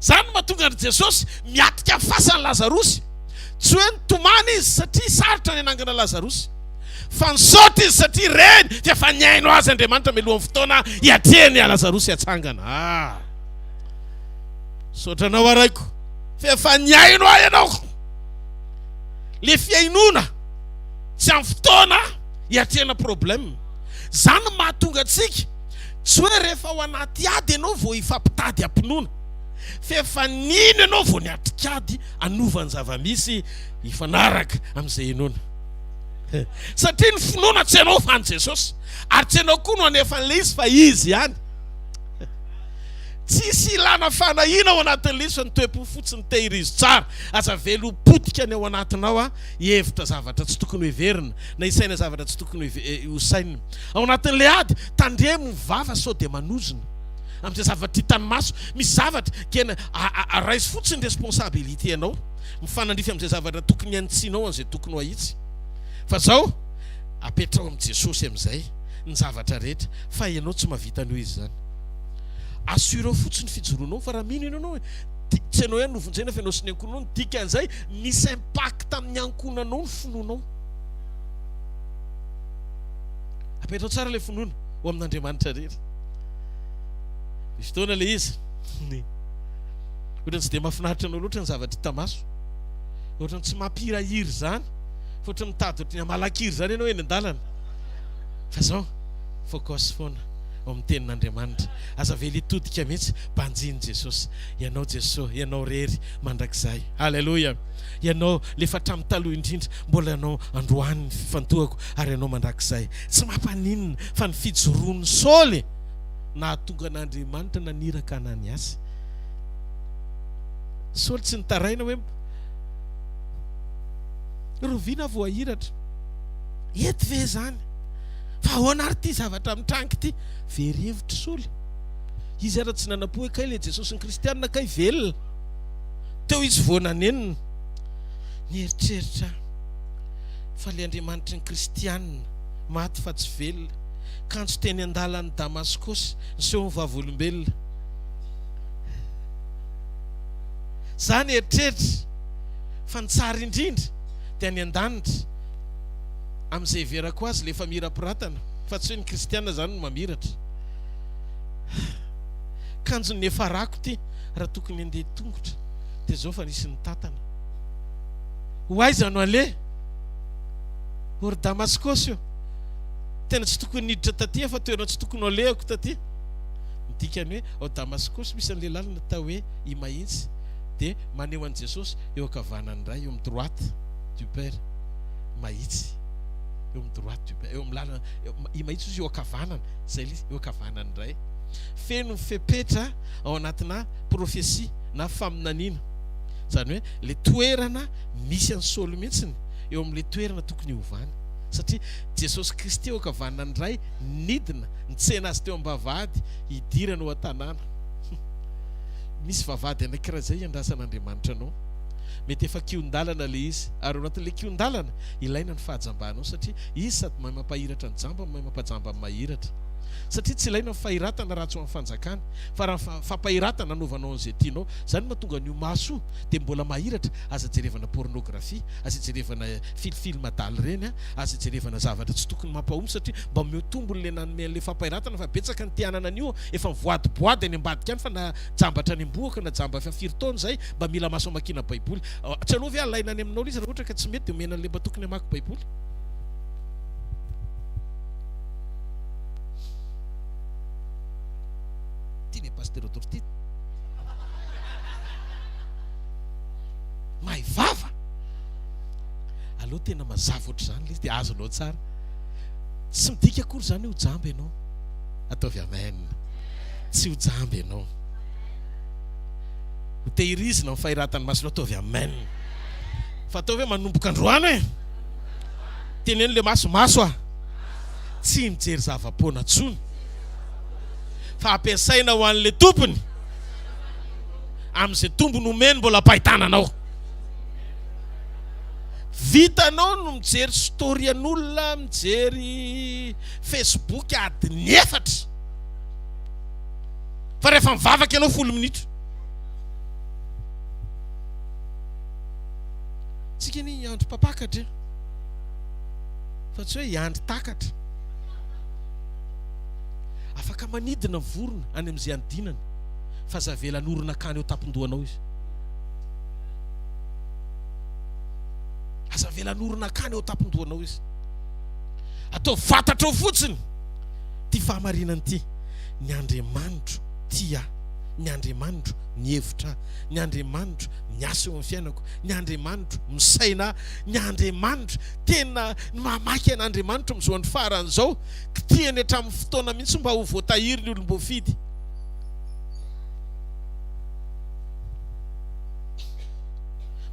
Izany no mahatonga an'i Jesosy miatrika ny fasan'i Lazarosy. Tsy hoe nitomany izy satria sarotra ny hanangana Lazarosy, fa nisaotra izy satria reny fa efa nihaino azy Andriamanitra mialohan'ny fotoana hiatrehany an'i Lazarosy hatsangana. Ah! Misaotra anao araiko fa efa nihaino ahy ianao. Le fihainoana tsy amin'ny fotoana hiatrehana problème. Izany no mahatonga antsika tsy hoe rehefa ao anaty ady ianao vao hifampitady am-pinoana, fa efa nino ianao vao niatrika ady hanova ny zava-misy hifanaraka amin'izay hinoana. Satria ny finoana tsy ianao fa an'i Jesosy, ary tsy ianao koa no hanefa an'ilay izy fa Izy ihany. Tsisy ilana fanahiana ao anatin'ilay izy fa ny toe-po fotsiny tehirizo tsara. Aza velom-potika ny ao anatinao hihevitra zavatra tsy tokony hoheverina. na isaina zavatra tsy tokony ho sainina. Ao anatin'ilay ady, tandremo ny vava sao dia manozona amin'izay zavatra hitan'ny maso. Misy zavatra kena raiso fotsiny responsabilité anao, mifanandrify amin'izay zavatra tokony hanitsianao an'izay tokony ho ahitsy. Fa zao, apetraho amin'i Jesosy amin'izay ny zavatra rehetra fa ianao tsy mahavita an'io izy izany. Assureo fotsiny fijoroanao fa raha mino ianao anao dia tsy ianao ihany no vonjena fa ianao sy ny ankohonanao no dikan'izay misy impact amin'ny ankohonanao ny finoanao. Apetrao tsara ilay finoana ho amin'Andriamanitra irery. Misy fotoana ilay izy, ohatrany tsy dia mahafinaritra anao loatra ny zavatra hita maso, ohatrany tsy mampihirahira izany, fa ohatrany mitady ohatrany hamalakiry izany ianao eny an-dalana. Fa zao, focus foana ao amin'ny tenin'Andriamanitra. Aza avela hitodika mihitsy, banjino Jesosy. Ianao Jesosy, Ianao irery mandrakizay. Alléluia. Ianao, ilay efa hatramin'ny taloha indrindra, mbola Ianao androany ny fifantohako, ary Ianao mandrakizay. Tsy mampaninona fa ny fijoroan'i Saoly nahatonga an'Andriamanitra naniraka an'Aniasy. Saoly tsy nitaraina hoe, Roviana voahiratra. Eto ve izany? Fa ahoana ary ity zavatra mitranga ity? Very hevitr'i Saoly. Izy ary tsy nanampo hoe kay ilay Jesosy ny Kristianina kay velona. Teo izy vao nanenina. Nieritreritra aho fa ilay Andriamanitry ny Kristianina, maty fa tsy velona, kanjo teny an-dalan'i Damaskosy, niseho ho vavolombelona. Izaho nieritreritra fa ny tsara indrindra dia any an-danitra, amin'izay heverako azy, ilay efa mirampiratana, fa tsy hoe ny Kristianina izany no mamiratra. Kanjo niafarako ity. raha tokony handeha tongotra dia zao fa nisy nitatana. Ho aiza no aleha? Or Damaskosy io tena tsy tokony niditra taty fa toerana tsy tokony ho alehako taty. Ny dikany hoe ao Damaskosy misy an'ilay lalana atao hoe Imahintsy dia maneho an'i Jesosy eo ankavanan'ny Ray, eo amin'ny droite du Père. Mahitsy eo amin'ny droite du Père, eo amin'ny lalana Imahintsy izy eo ankavanana, izay ilay izy eo ankavanan'ny Ray. Feno fepetra ao anatina profesia na faminaniana. Izany hoe ilay toerana misy an'i Saoly mihitsy eo amin'ilay toerana tokony hiovany. Satria Jesosy Kristy eo ankavanana ny Ray nidina nitsena azy teo am-bavahady hidirana ao an-tanàna. Misy vavahady anankiray izay iandrasan'Andriamanitra anao. Mety efa kihon-dalana ilay izy, ary ao anatin'ilay kihon-dalana, ilaina ny fahajambanao satria Izy sady mahay mampahiratra ny jamba no mahay mampajamba ny mahiratra. satria tsy ilaina ny fahiratana raha tsy ho an'ny fanjakana fa raha fampahiratana anaovanao an'izay tianao izany no mahatonga an'io maso io dia mbola mahiratra aza jerevana pornographie aza jerevana fil film adal ireny an aza jerevana zavatra tsy tokony mampahomby satria mba omeo tombony ilay nanome an'ilay fampahiratana fa betsaka ny te hanana an'io efa mivoady boady any ambadika any fa na jambatra any ambohoka na jamba efa firy taona izay mba mila maso amakiana baiboly tsy aleo ve alaina any aminao ilay izy raha ohatra ka tsy mety dia omena an'ilay mba tokony hamaky baiboly Ty le pasteur atoro ty. Mahay vava. Aleo tena mazava ohatr'izany le izy dia azonao tsara. Tsy midika akory izany ho jamba ianao. Ataovy amen. Tsy ho jamba ianao. Ho tehirizina amin'ny fahiratan'ny masonao. Ataovy amen. Fa ataovy hoe manomboka androany e. Teneno le maso, maso a. tsy mijery zava-poana tsony fa ampiasaina ho an'ilay tompony amin'izay tombony omeny mbola am-pahitananao. Vitanao no mijery story an'olona, mijery Facebook adiny efatra fa rehefa mivavaka ianao folo minitra. Tsika anie hiandry mpampakatra e! fa tsy hoe hiandry takatra. Afaka manidina vorona any amin'izay anodinany fa aza avela hanorina akany eo an-tampon-dohanao izy. Aza avela hanorina akany eo an-tampon-dohanao izy. Ataovy fantatrao fotsiny ity fahamarinana ity, ny Andriamanitro tia ahy, ny Andriamanitro mihevitra ahy, ny Andriamanitro miasa eo amin'ny fiainako, ny Andriamanitro misaina ahy, ny Andriamanitro tena ny mamaky an'Andriamanitra amin'izao farany izao, kitihany hatramin'ny fotoana mihitsy mba ho voatahiry ny olom-boafidy.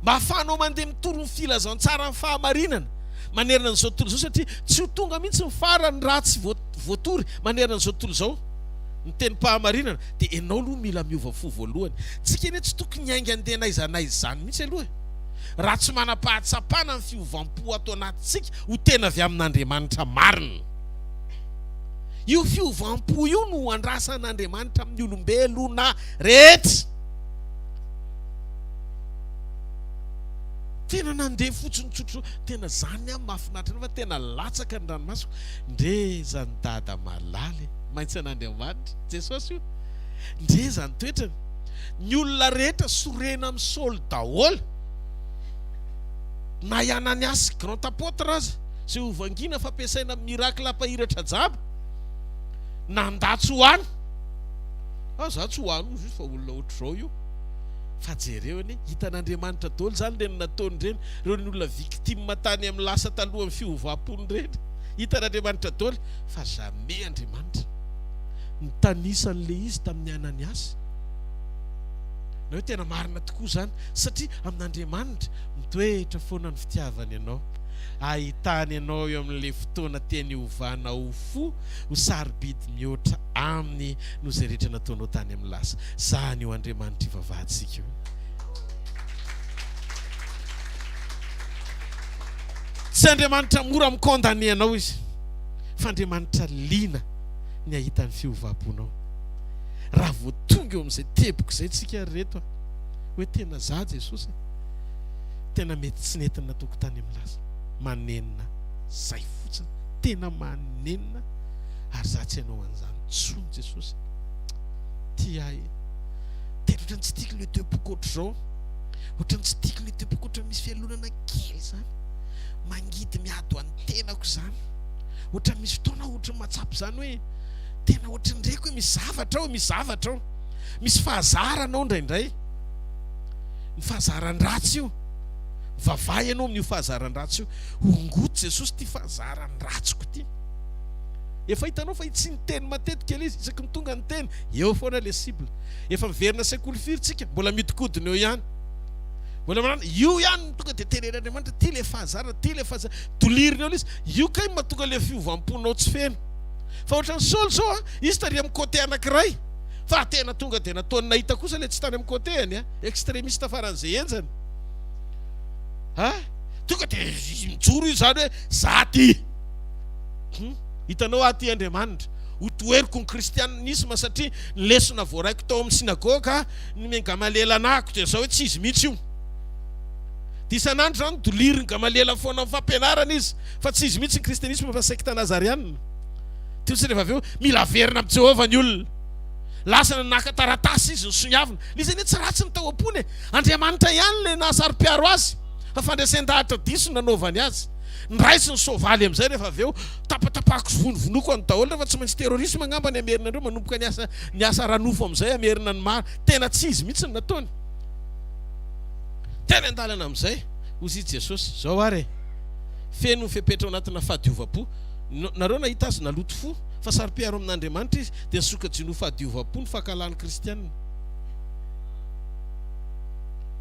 Mba hahafahanao mandeha mitory ny filazantsaran'ny fahamarinana manerana an'izao tontolo izao, satria tsy ho tonga mihitsy ny farany raha tsy voatory manerana an'izao tontolo izao ny tenim-pahamarinana, dia ianao aloha mila miova fo voalohany. Isika anie tsy tokony hiainga handeha na aiza na aiza izany mihitsy aloha e! raha tsy manam-pahatsapana ny fiovam-po ato anatintsika ho tena avy amin'Andriamanitra marina. Io fiovam-po io no andrasan'Andriamanitra amin'ny olombelona rehetra. Tena nandeha fotsiny tsotro, tena zany aho mahafinaritra anao fa tena latsaka ny ranomasoko. Ndre zany dada malala e, maintsy an'Andriamanitra, Jesosy io. Ndre zany toetrany. Ny olona rehetra sorena amin'i Saoly daholo, na i Ananiasy grand apôtre aza, izay hovangina fa ampiasaina amin'ny miracle hampahiratra jaba, na ndà tsy ho any, ah za tsy ho any hoy Jesosy fa olona ohatr'izao io, fa jereo anie, hitan'Andriamanitra daholo izany ireny nataony ireny, ireny olona victime tany amin'ny lasa talohan'ny fiovàm-pony ireny, hitan'Andriamanitra daholo fa jamais Andriamanitra. Nitanisa an'ilay izy tamin'i Ananiasy. Ianao tena marina tokoa izany, satria amin'Andriamanitra mitoetra foana ny fitiavany anao. Ahitany anao eo amin'ilay fotoana tiany hovana ho fo, ho sarobidy mihoatra Aminy noho izay rehetra nataonao tany amin'ny lasa. Izany io Andriamanitra ivavahantsika io. Tsy Andriamanitra mora mi-condamner anao Izy, fa Andriamanitra liana. ny hahita ny fiovam-ponao. Raha vao tonga eo amin'izay teboka izay tsika ry reto a! Hoe tena za Jesosy e! Tena mety tsy nentina natoko tany amin'ny lasa. Manenina. Zay fotsiny. Tena manenina ary za tsy hanao an'izany intsony Jesosy e! Tia ahy e! Tena ohatran'ny tsy tiako ilay teboka ohatr'izao. Ohatran'ny tsy tiako ilay teboka ohatran'ny misy fialonana kely izany. Mangidy miady ho an'ny tenako izany. Ohatran'ny misy fotoana aho ohatran'ny mahatsapa izany hoe tena ohatran'ny reko hoe misy zavatra ao, misy zavatra ao. Misy fahazarana ao indraindray. Ny fahazaran-dratsy io. Vavaha ianao amin'io fahazaran-dratsy io. Hongoty Jesosy ity fahazaran'ny ratsiko ity. Efa hitanao fa tsy niteny matetika ilay izy, isaky ny tonga ny teny, eo foana ilay cible. Efa miverina sekoly firy tsika, mbola mihodinkodina eo ihany. Mbola manana io ihany tonga dia tenenin'Andriamanitra, ity ilay fahazarana, ity ilay fahazarana. Dolirina eo ilay izy. Io kay mahatonga le fiovam-ponao tsy feno. Fa ohatran'i Saoly zao a, izy tary amin'ny côté anankiray, fa tena tonga dia nataony nahita kosa le tsy tany amin'ny côté-any a, extremiste faran'izay henjana a, tonga dia mijoro izy zany hoe za ty, hum, hitanao aho ty Andriamanitra, ho toheriko ny kristianisma satria ny lesona voaraiko tao amin'ny synagoga, ny Gamaliel anahako dia zao hoe tsy izy mihitsy io. Dia isan'andro izany dolirin'i Gamaliela foana amin'ny fampianarana izy, fa tsy izy mihitsy ny kristianisma fa sekta nazarianina. Teo sy rehefa avy eo, mila averina amin'i Jehovah ny olona. Lasa naka taratasy izy nisoniavina. Ilay izy anie tsy ratsy ny tao am-pony e! Andriamanitra ihany ilay nahasaro-piaro azy, fa fandresen-dahatra diso no nanaovany azy. Niraisiny ny soavaly amin'izay rehefa avy eo. Tapatapahako sy vonovonoko an'ny daholo, fa tsy maintsy terrorisme angamba ny hamerina an'ireo manomboka ny asa, ny asa ara-nofo amin'izay hamerina ny maro. Tena tsy izy mihitsy no nataony. Teny an-dalana amin'izay, hozy i Jesosy, Izao ary e! Feno fepetra ao anatina fahadiovam-po. Nareo nahita Azy naloto fo, fa saro-piaro amin'Andriamanitra Izy, dia nisoka-jino ho fahadiovam-po ny fankahalan'ny kristiana.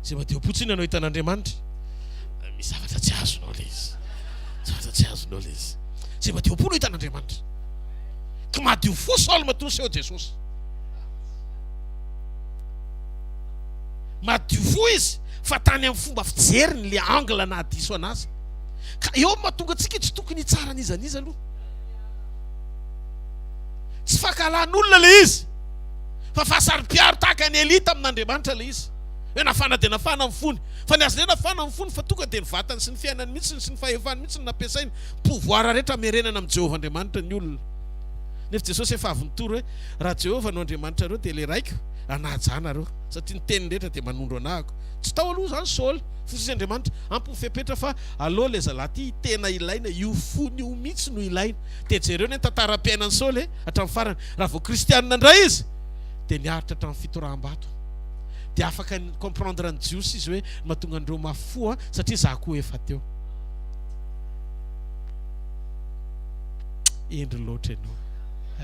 Izay madio-po tsy inona no ahitana Andriamanitra? Misy zavatra tsy azonao ilay izy. Zavatra tsy azonao ilay izy. Izay madio-po no ahitana Andriamanitra. Ka madio fo Saoly matoa niseho Jesosy. Madio fo izy fa tany amin'ny fomba fijeriny le angle naha diso anazy ka eo no mahatonga antsika tsy tokony hitsara n'iza n'iza aloha. Tsy fankahalan'olona le izy fa fahasaropiaro tahaka ny elite amin'Andriamanitra le izy hoe nafana dia nafana ny fony fa ny azy indray nafana ny fony fa tonga dia ny vatany sy ny fiainany mihitsy sy ny fahefany mihitsy no nampiasainy pouvoir rehetra hamerenana amin'i Jehovah Andriamanitra ny olona nefa Jesosy efa avy nitory hoe raha Jehovah no Andriamanitrareo dia le raiko Nanaja ahy nareo, satria ny teniny rehetra dia manondro anahako. Tsy tao aloha izany Saoly, fa hoy Andriamanitra, Ampy ny fepetra fa aleo ilay zalahy ity tena ilaina, io fony io mihitsy no ilaina. Dia jereo anie ny tantaram-piainan'i Saoly e, hatramin'ny farany. Raha vao kristianina indray izy, dia niaritra hatramin'ny fitoraham-bato. Dia afaka ni-comprendre ny Jiosy izy hoe, ny mahatonga an'ireo mafy fo an, satria izaho koa efa teo. Hendry loatra ianao.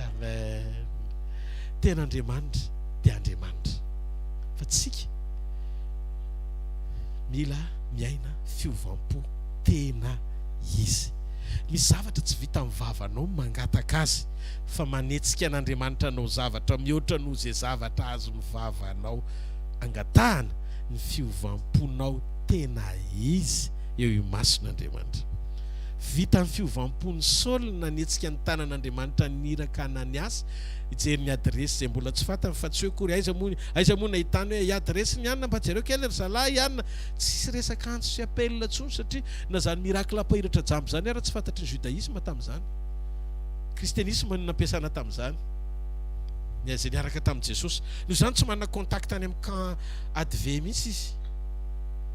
Amen. Tena Andriamanitra dia Andriamanitra. Fa tsika mila miaina fiovam-po tena izy. Misy zavatra tsy vitan'ny vavanao mangataka azy fa manetsika an'Andriamanitra hanao zavatra mihoatra noho izay zavatra azon'ny vavanao angatahana ny fiovam-ponao tena izy eo imason'Andriamanitra. Vita ny fiovam-pon'i Saoly nanetsika ny tanan'Andriamanitra niraka an'Aniasy hijery ny adiresy izay mbola tsy fantany fa tsy hoe akory aiza moa aiza moa nahitany hoe adiresy ny Anna mba jereo kely ry zalahy Anna tsisy resaka antso sy appel intsony satria na zany miracle mpahiratra jamba zany ara tsy fantatry ny judaisme tamin'izany christianisme no nampiasana tamin'izany ny izay niaraka tamin'i Jesosy noho izany tsy manana contact any amin'ny camp adve mihitsy izy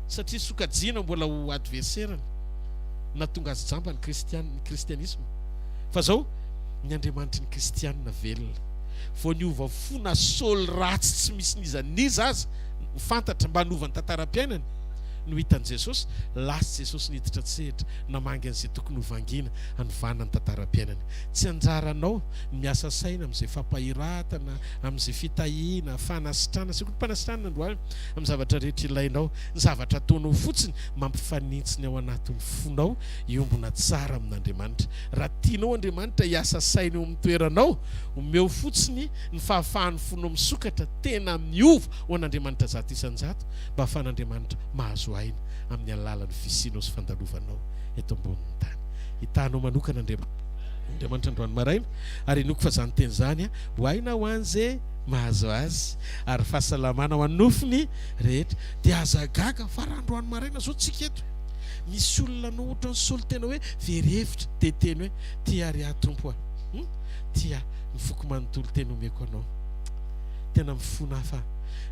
satria sokajiana mbola ho adversaire-ny nahatonga azy jamba ny kristiana, ny kristianisma, fa zao ny Andriamanitry ny kristiana velona, vao niova fo na Saoly ratsy tsy misy n'iza n'iza aza fantatra mba hanova ny tantaram-piainany no hitan'i Jesosy, lasa Jesosy niditra an-tsehatra namangy an'izay tokony ho vangiana hanovana ny tantaram-piainany. Tsy anjaranao ny miasa saina amin'izay fampahiratana, amin'izay fitahiana, fanasitrana, sekoly mpanasitranana androany amin'ny zavatra rehetra ilainao, ny zavatra ataonao fotsiny Mampifanintsy ny ao anatin'ny fonao hiombona tsara amin'Andriamanitra. Raha tianao Andriamanitra hiasa saina eo amin'ny toeranao, omeo fotsiny ny fahafahan'ny fonao misokatra tena miova ho an'Andriamanitra zato isan-jato mba hahafahan'Andriamanitra mahazo aina amin'ny alalan'ny fisianao sy fandalovanao eto ambonin'ny tany. Hitahanao manokana Andriamanitra. Andriamanitra androany maraina ary inoako fa izany teny izany ho aina ho an'izay mahazo azy ary fahasalamana ho an'ny nofony rehetra. Dia aza gaga fa raha androany maraina zao tsika eto misy olona anao otrany solontena hoe very hevitra dia teny hoe tia ry ahy Tompo a hum tia ny foko manontolo teny omeko anao tena mifona aho fa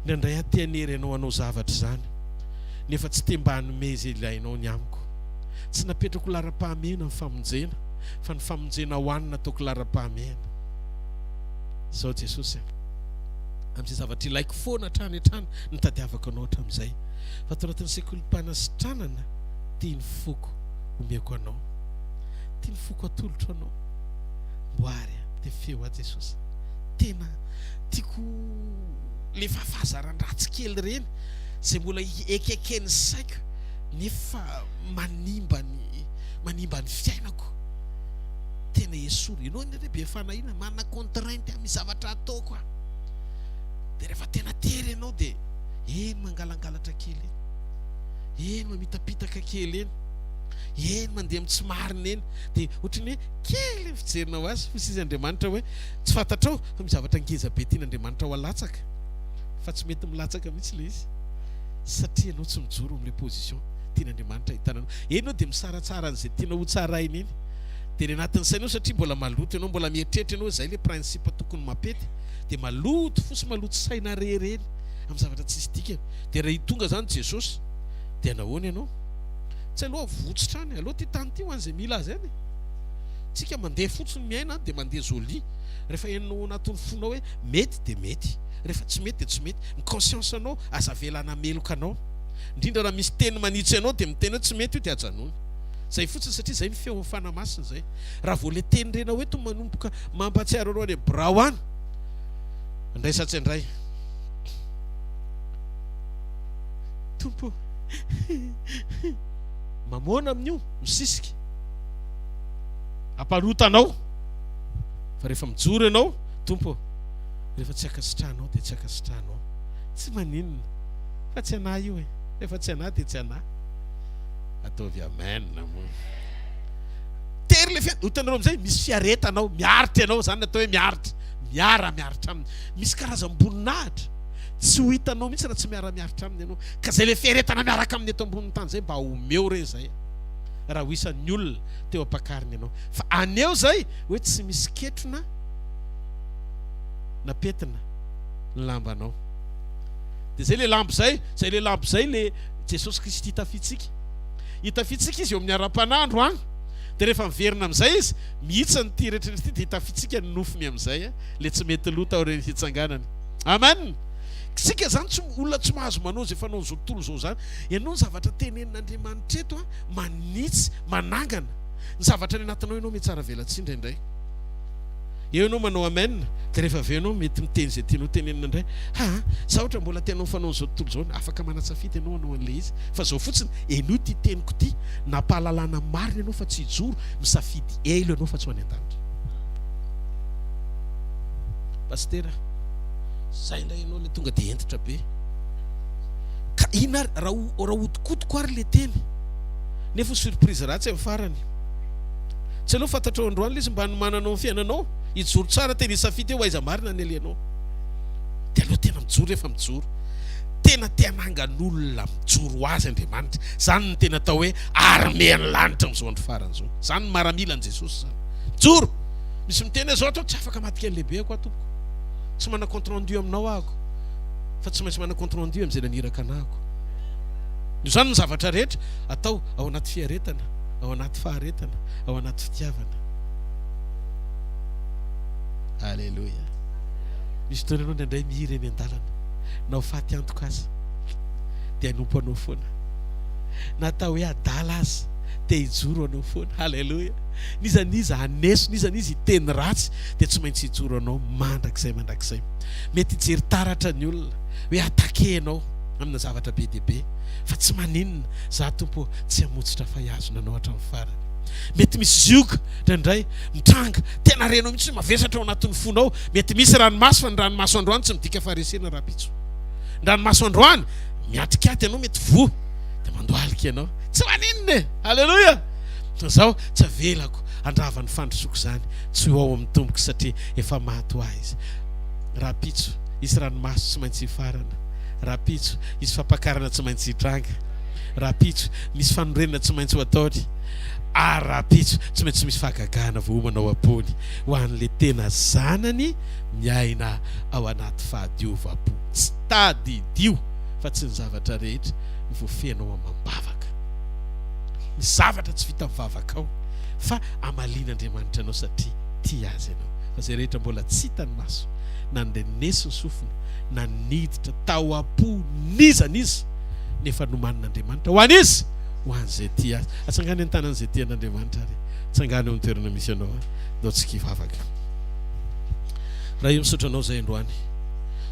indraindray aho te hanery anao hanao zavatra izany nefa tsy te mba hanome izay ilainao ny amiko tsy napetrako laharam-pahamehana ny famonjena fa ny famonjena ho any nataoko laharam-pahamehana izao Jesosy a amin'izay zavatra ilaiko foana hatrany hatrany Ny tadiavako anao hatramin'izay, fa tao anatin'ny sekolim-panasitranana, tian'ny foko omeko anao. Tian'ny foko hatolotro anao. Mboary a! Dia feo ahy Jesosy. Tena tiako ilay fahafahazaran-dratsy kely ireny izay mbola ekeken'ny saiko nefa manimba ny manimba ny fiainako. Tena esory. Ianao anie re be fanahiana, manana contrainte amin'ny zavatra ataoko aho. Dia rehefa tena tery ianao dia eny mangalangalatra kely eny, eny mamitapitaka kely eny, eny mandeha amin'ny tsy marina eny. Dia ohatry ny hoe kely ny fijerinao azy, hoy sisa Andriamanitra hoe tsy fantatrao fa misy zavatra ngeza be tian'Andriamanitra ho alatsaka fa tsy mety milatsaka mihitsy ilay izy satria ianao tsy mijoro amin'ilay position tian'Andriamanitra ahitana anao. Eny ianao dia misaratsara an'izay tianao hotsaraina eny. Dia ny anatin'ny sainao satria mbola maloto ianao, mbola mieritreritra ianao hoe izay ilay principe tokony mampety. dia maloto fo sy maloto saina re ireny amin'ny zavatra tsisy dikany dia raha hitonga izany Jesosy dia nahoana ianao? Tsy aleo avotsitra any, aleo ity tany ity ho an'izay mila azy any e! Tsika mandeha fotsiny miaina any dia mandeha jolie rehefa henonao ao anatin'ny fonao hoe mety dia mety rehefa tsy mety dia tsy mety, ny conscience anao aza avela hanameloka anao indrindra raha misy teny manitsy anao dia miteny hoe tsy mety io dia ajanony izay fotsiny satria izay ny feon'ny Fanahy Masina izay. Raha vao ilay teny renao eto manomboka mampahatsiaro anao any birao any, andraisantsy indray. Tompo mamoana amin'io misisika amparotanao fa rehefa mijoro ianao tompo rehefa tsy akasitrahanao dia tsy akasitrahanao tsy maninona fa tsy anah io e rehefa tsy anah dia tsy anah ataovy amen moa Tery ilay fiara. Hitanareo amin'izay, misy fiaretana ao, miaritra ianao, izany no atao hoe miaritra, miara-miaritra aminy. Misy karazam-boninahitra tsy ho hitanao mihitsy raha tsy miara-miaritra aminy ianao. Ka izay ilay fiaretana miaraka aminy eto ambonin'ny tany izay, mba omeo re izay raha ho isan'ny olona teo am-pakariny ianao. Fa aneho izay hoe tsy misy ketrona na pentina ny lambanao. Dia izay ilay lamba izay, izay ilay lamba izay ilay Jesosy Kristy tafiditsika. Hitafitsika izy eo amin'ny ara-panandro an! Dia rehefa miverina amin'izay izy, mihitsy ny ty eretreritra ity, dia hitafitsika ny nofony amin'izay an! Ilay tsy mety lo taorian'ny hitsanganany. Amen! Isika izany tsy, olona tsy mahazo manao izay fanaon'izao tontolo izao izany. Ianao ny zavatra tenenin'Andriamanitra eto an, manitsy, manangana. Ny zavatra any anatinao ianao mihatsaravelatsihy indraindray. Eo ianao manao amen dia rehefa avy eo ianao mety miteny izay tianao tenenina indray. Ha a! Sa ohatra mbola tianao fanao an'izao tontolo izao ny. Afaka manatsafidy ianao hanao an'ilay izy. Fa izao fotsiny, henoy ity teniko ity, nampahalalana marina ianao fa tsy hijoro, misafidy elo ianao fa tsy ho any an-danitra. Pasitera, zay indray ianao ilay tonga dia hentitra be. Ka inona ary raha raha hodikodiko ary ilay teny? Nefa ho surprise ratsy amin'ny farany. Tsy aleo fantatrao androany lesy mba hanomananao ny fiainanao hijoro tsara tena hisafidy hoe aiza marina ny alehanao dia aleo tena mijoro rehefa mijoro tena te hanangan'olona mijoro ho azy Andriamanitra izany ny tena atao hoe armean'ny lanitra amin'izao andro farany izao izany maramilan'i Jesosy izany mijoro misy miteny izao atao tsy afaka maty kely lehibe ako aho tompoko tsy manana compte rendu aminao ako fa tsy maintsy manana compte rendu amin'izay naniraka anako izany ny zavatra rehetra atao ao anaty fiaretana ao anaty faharetana, ao anaty fitiavana. Aleloia. Misy fotoana ianao indraindray mihira eny an-dalana, na ho faty antoka aza, dia hanompo anao foana. Na atao hoe adala aza, te hijoro anao foana. Aleloia. N'iza n'iza haneso, n'iza n'iza hiteny ratsy, dia tsy maintsy hijoro anao mandrakizay mandrakizay. Mety hijery taratra ny olona hoe attaqué ianao amina zavatra be dia be, fa tsy maninona, za tompo Tsy hamotsitra fahihazona anao hatramin'ny farany. Mety misy zioga indraindray mitranga, tena renao mihitsy hoe mavesatra ao anatin'ny fonao. Mety misy ranomaso, fa ny ranomaso androany tsy midika faharesena rahampitso. Ny ranomaso androany miatrikaty anao, mety voa dia mandohalika ianao. Tsy maninona e! Aleloia! Izaho tsy avelako handrava ny fandrosoako izany, tsy ho ao amin'ny tomboko satria efa maty ho ahy izy. Rahampitso, hisy ranomaso tsy maintsy hifarana. Rahampitso, hisy fampakarana tsy maintsy hitranga. Rahampitso, misy fanorenana tsy maintsy ho ataony, ary rahampitso, tsy maintsy misy fahagagana voaomana ao am-pony ho an'ilay tena zanany miaina ao anaty fahadiovam-po. Tsy tadidio fa tsy ny zavatra rehetra no voafehina ao amam-bavaka. Misy zavatra tsy vita mivavaka ao, fa amalian'Andriamanitra anao satria tia azy ianao. Fa izay rehetra mbola tsy hitan'ny maso, na norenesy ny sofina, na niditra tao am-po n'iza n'iza, nefa nomanin'Andriamanitra ho an'iza? Ho an'izay tia Azy. Atsangano eny an-tanan'izay tia an'Andriamanitra ary tsangano eo amin'ny toerana misy anao ary ndao tsy kivavaka. Ray o, misaotra Anao izay androany.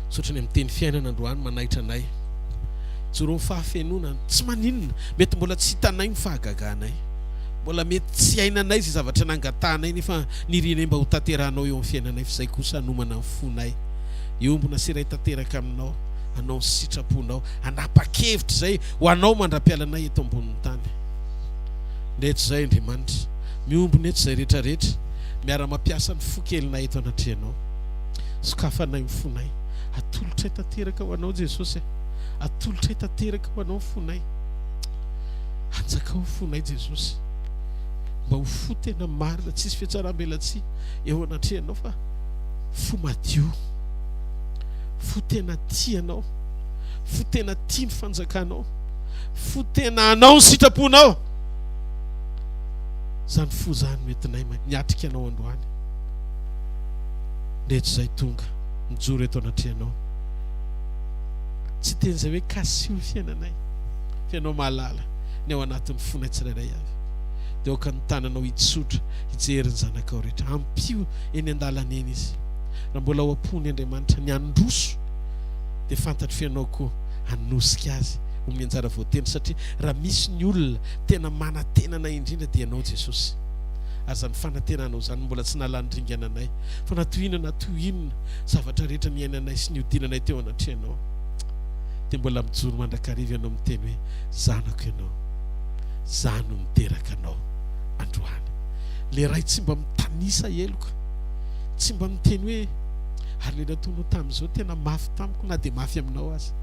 Misaotra ny amin'ny teny fiainana androany manaitra anay. Joro ny fahafenoana, tsy maninona, mety mbola tsy hitanay ny fahagaganay, mbola mety tsy hainanay izay zavatra nangatahanay nefa nirianay mba hotanterahanao eo amin'ny fiainanay f'izay kosa hanomana ny fonay hiombona sy hiray tanteraka aminao. anao ny sitraponao, hanapa-kevitra izay ho anao mandra-pialanay eto ambonin'ny tany. Nety izay, Andriamanitra. Miombona eto izay rehetra rehetra, miara-mampiasa ny fo kelinay eto anatrehanao. Sokafanay ny fonay. Atolotray tanteraka ho anao, Jesosy a. Atolotray tanteraka ho anao ny fonay. Anjakao ny fonay, Jesosy. Mba ho fo tena marina, tsisy fihatsaram-belatsihy eo anatrehanao fa fo madio. fo tena tia anao, fo tena tia ny fanjakanao, fo tena hanao ny sitraponao. Izany fo izany no entinay niatrika anao androany. Rehetra izay tonga mijoro eto anatrehanao, tsy teny izay hoe kasio ny fiainanay, fa ianao mahalala ny ao anatin'ny fonay tsirairay avy. Dia aoka ny tananao hitsotra hijery ny zanakao rehetra, ampio eny an-dalana eny izy. Raha mbola ao am-pony Andriamanitra ny handroso dia fantatro Ianao koa hanosika azy ho amin'ny anjara voatendry satria raha misy ny olona tena manantena anay indrindra dia Ianao Jesosy ary izany fanantenanao izany no mbola tsy nalan'ny ringana anay fa na toy inona na toy inona zavatra rehetra niainanay sy niodinanay teo anatrehanao dia mbola mijoro mandrakariva Ianao miteny hoe zanako Ianao za no niteraka anao androany le ray tsy mba mitanisa heloka tsy mba miteny hoe ary le nataonao tamin'izao tena mafy tamiko na dia mafy aminao aza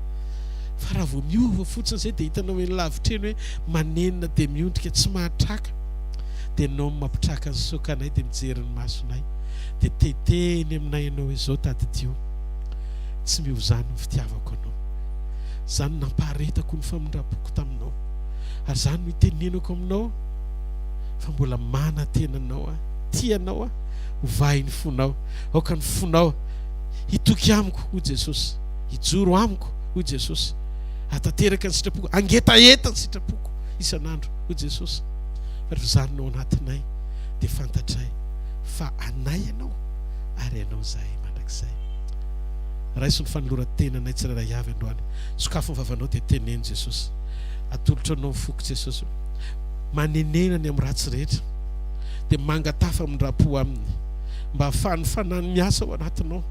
fa raha vao miova fotsiny izay dia hitanao eny lavitra eny hoe manenina dia miondrika tsy mahatraka dia nao mampitraka ny sokanay dia mijery ny masonay dia tetehiny aminay ianao izao tadidio tsy miova izany ny fitiavako anao izany nampaharetako ny famindrapoko taminao ary izany no itenenako aminao fa mbola manatena anao aho Tia anao aho, ho vahin'ny fonao. Aoka ny fonao hitoky amiko, hoy Jesosy. Hijoro amiko, hoy Jesosy. Hahatanteraka ny sitrapoko, hangetaheta ny sitrapoko isan'andro, hoy Jesosy. Fa ry zany no ao anatinay dia fantatray fa anay Ianao ary Ianao izahay mandrakizay. Raiso ny fanoloran-tenanay tsirairay avy androany. Sokafo ny vavanao dia teneno Jesosy. Atolotro Anao ny foko Jesosy. Manenena ny amin'ny ratsy rehetra. dia mangataha famindram-po Aminy, mba hahafahan'ny Fanahiny miasa ao anatinao,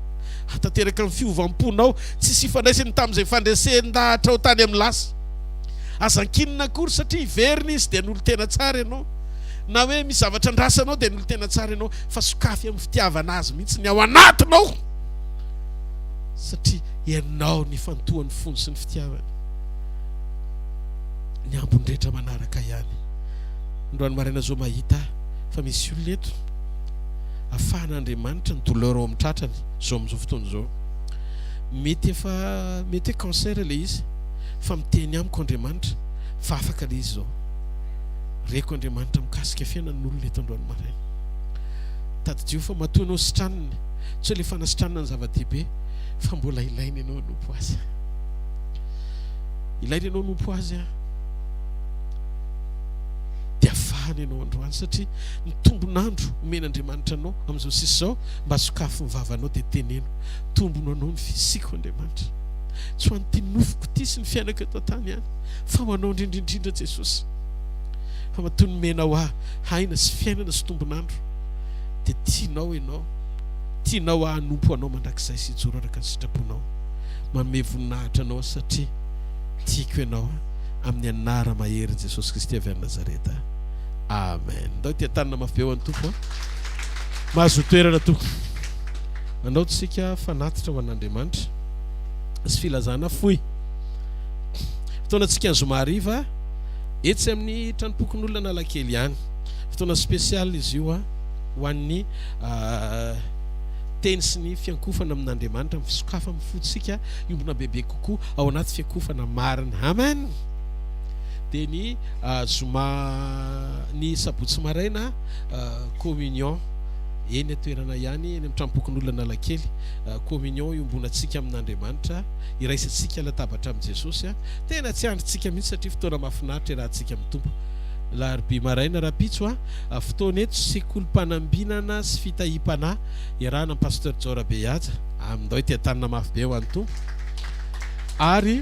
hahatanteraka ny fiovam-ponao tsisy ifandraisany tamin'izay fandresen-dahatrao tany amin'ny lasa. Aza ankinina akory satria hiverina Izy dia hanolo tena tsara ianao, na hoe misy zavatra andrasanao dia hanolo tena tsara ianao, fa sokafy amin'ny fitiavana Azy mihitsy ny ao anatinao, satria ianao no ifantohan'ny fony sy ny fitiavany ny ambiny rehetra manaraka ihany. Androany maraina zao mahita fa misy olona eto afahan' Andriamanitra ny douleur ao amin'ny tratrany zao amin'izao fotoana izao. Mety efa mety hoe cancer ilay izy fa miteny amiko Andriamanitra fa afaka ilay izy zao. Reko Andriamanitra mikasika fiainan'ny olona eto androany maraina. Tadidio fa matoa ianao sitraniny tsy hoe ilay fanasitranana ny zava-dehibe fa mbola ilaina ianao hanompo azy. Ilaina ianao hanompo azy an. dia faly ianao androany satria ny tombon'andro omen'Andriamanitra anao amin'izao sisa izao mba sokafy ny vavanao dia teneno tombono anao ny fisiako Andriamanitra tsy ho an'ity nofoko ity sy ny fiainako eto an-tany ihany fa ho anao indrindra indrindra Jesosy fa matoa nomena ho ahy aina sy fiainana sy tombon'andro dia tianao ianao tianao hanompo anao mandrakizay sy hijoro araka ny sitraponao manome voninahitra anao satria tiako ianao amin'ny anara maherin'i Jesosy Kristy avy any Nazareta. Amen. Ndao ity an-tanana mafy be ho an'ny Tompo a. Mahazo toerana tompoko. Andao tsika fanatitra ho an'Andriamanitra sy filazana fohy. Fotoana tsika ny zoma hariva etsy amin'ny tranompokon'olona Analakely ihany. Fotoana spécial izy io a ho an'ny ah, teny sy ny fiankofana amin'Andriamanitra, amin'ny fisokafa amin'ny fotsika, iombona bebe. koa ao anaty fiakofana marina. Amen! Dia ny zoma, ny sabotsy maraina, communion, eny an-toerana ihany, eny amin'ny Tranompokonolon'Analakely, communion iombonantsika amin'Andriamanitra, iraisantsika latabatra amin'i Jesosy. Tena tsy andrintsika mihitsy satria fotoana mahafinaritra iarahantsika amin'ny Tompo. Alarobia maraina rahampitso, fotoana eto sekolim-panambinana sy fitahiam-panahy, iarahana amin'i Pasteur Jaora Behaja. Amindao ity an-tanana mafy be ho an'ny Tompo. Ary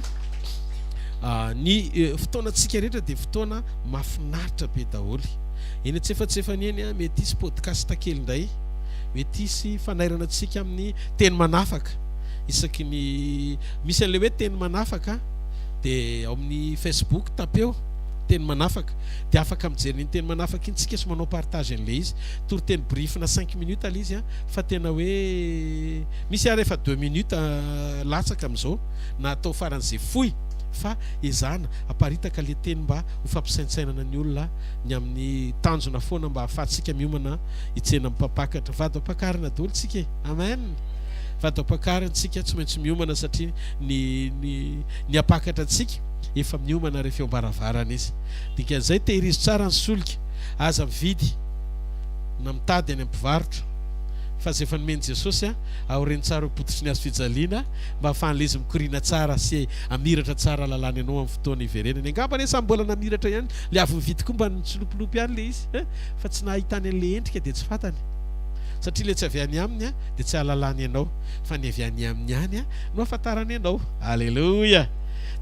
ny fotoanantsika rehetra dia fotoana mahafinaritra be daholo. Eny an-tsefatsefany eny, mety hisy podcast kely indray, mety hisy fanairana antsika amin'ny teny manafaka. Isaky ny misy an'ilay hoe teny manafaka dia ao amin'ny Facebook tapeo teny manafaka dia afaka mijery ny teny manafaka iny isika sy manao partage an'ilay izy. Toriteny brief-na cinq minutes ilay izy. fa tena hoe misy ary efa deux minutes latsaka amin'izao na atao faran'izay fohy fa ezahana aparitaka le teny mba ho fampisaintsainana ny olona ny amin'ny tanjona foana mba ahafahantsika miomana hitsena amin'ny mpampakatra vady ampakarina daholo tsika e amen vady ampakarina tsika tsy maintsy miomana satria ny ny ny ampakatra antsika efa miomana rehefa eo ambaravarana izy dikan'izay tehirizo tsara ny solika aza mividy na mitady any amin'ny mpivarotra fa izay efa nomen'i Jesosy aorian'ny tsara ho pototry ny hazo fijaliana mba hahafahan'ilay izy mikoriana tsara sy hamiratra tsara lalàna ianao amin'ny fotoana hiverenany. Angamba anie samy mbola namiratra ihany, ilay avy nividy koa mba nitsilopilopy ihany ilay izy fa tsy nahitany an'ilay endrika dia tsy fantany satria ilay tsy avy any aminy dia tsy hahalalany ianao fa ny avy any aminy ihany no hahafantarany ianao. Aleloia!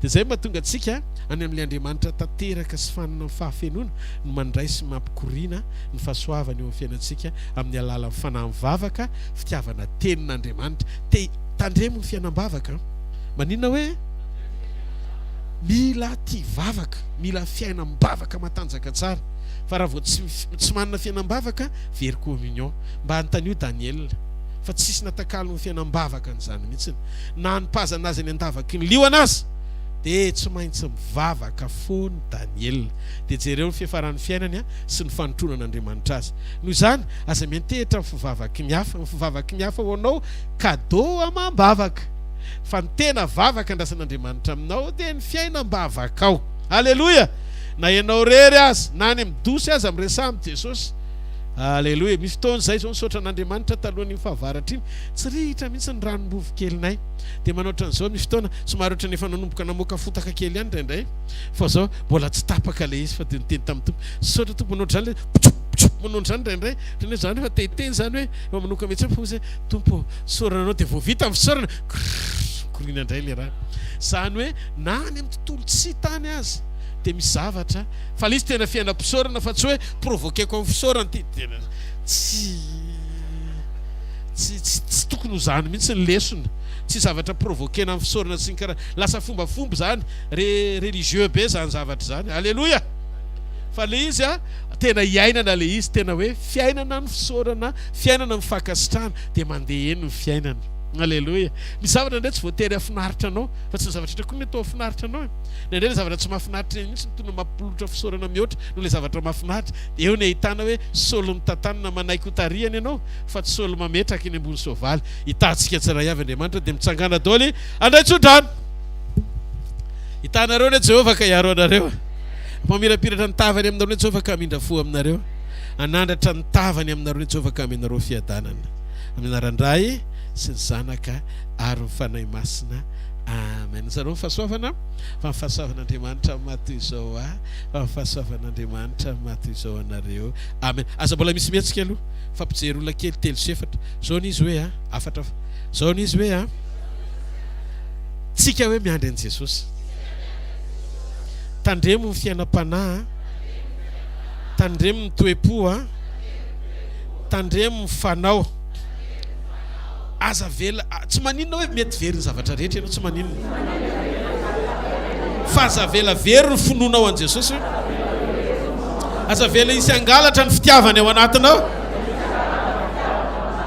Dia izay mahatonga antsika any amin'ilay Andriamanitra tanteraka sy fanina amin'ny fahafenoana no mandray sy mampikoriana ny fahasoavany eo amin'ny fiainantsika amin'ny alalan'ny fanahy mivavaka, fitiavana Tenin'Andriamanitra. Te Tandremo ny fiainam-bavaka. Maninona hoe mila tia vavaka, mila fiainam-bavaka matanjaka tsara. Fa raha vao tsy tsy manana fiainam-bavaka, very communion. Mba anontanio Daniel. Fa tsisy natakalo ny fiainam-bavaka an'izany mihitsy. Na hanipazana azy any an-davaky ny liona aza, dia tsy maintsy mivavaka foana i Daniel. Dia jereo ny fiafaran'ny fiainany an! sy ny fanintroana an'Andriamanitra azy. Noho izany, aza miantehitra ny fivavaky ny hafa. Ny fivavaky ny hafa ho anao cadeau amam-bavaka. Fa ny tena vavaka andrasan'Andriamanitra aminao dia ny fiainam-bavakao. Aleloia! Na ianao irery aza, na any amin'ny dosy aza, miresaha amin'i Jesosy. Aleloia! Misy fotoana izay izao nisaotra an'Andriamanitra talohan'iny fahavaratra iny, tsy rihitra mihitsy ny ranom-bovo kelinay. Dia manao ohatran'izao misy fotoana, somary ohatran'ny efa nanomboka namoaka fotaka kely ihany indraindray. fa zao mbola tsy tapaka le izy fa de niteny tamin'ny Tompo saotra Tompo manao drano manao drano indraindray ohatran'ny hoe zany efa te hiteny zany hoe efa manoka mihitsy fo zay Tompo saorana anao de vao vita ny fisaorana mikoriana indray le raha zany hoe na any amin'ny tontolo tsy tany azy de misy zavatra fa le izy tena fiainam-pisaorana fa tsy hoe provoquer-ko amin'ny fisaorana ty tena tsy tsy tsy tsy tokony ho zany mihitsy ny lesona tsy zavatra provoquer-na amin'ny fisaorana sy ny karaha lasa fombafomba zany Re religieux be zany zavatra zany. Aleloia! Fa le izy a, tena iainana le izy, tena hoe fiainana ny fisaorana, fiainana ny fankasitrahana, de mandeha eny ny fiainana. Aleloia! Misy zavatra ndray tsy voatery hafinaritra anao, fa tsy ny zavatra rehetra koa mety ho hafinaritra anao e. Na indray le zavatra tsy mahafinaritra eny mintsy no tonga mampolotra fisaorana mihoatra noho le zavatra mahafinaritra. De eo ny ahitana hoe Saoly mitantanana manaiky ho tarihany ianao, fa tsy Saoly mametraka eny ambony soavaly. Hitahintsika tsirairay avy Andriamanitra, de mitsangana daoly handray tsodrano. Hitanareo anie Jehovah ka hiaro anareo. Hampamirapiratra ny tavany aminareo anie Jehovah ka hamindra fo aminareo. Hanandratra ny tavany aminareo anie Jehovah ka hamehy anareo fiadanana. Amin'ny anaran'ny Ray sy ny Zanaka ary ny Fanahy Masina. Amen. Zareo ny fahasoavana fa ny fahasoavan'Andriamanitra maha toy izao ahy fa ny fahasoavan'Andriamanitra maha toy izao anareo. Amen. Aza mbola misy mihetsika aloha fa mpijery olona kely telo sy efatra. Zao ny izy hoe a, afatra fa. Zao ny izy hoe a. Tsika hoe miandry an'i Jesosy. Tandremo ny fiainam-panahy. Tandremo ny toe-po. Tandremo ny fanao. Aza avela, tsy maninona hoe mety very ny zavatra rehetra ianao, tsy maninona. Fa aza avela very ny finoanao an'i Jesosy. Aza avela hisy hangalatra ny fitiavany ao anatinao.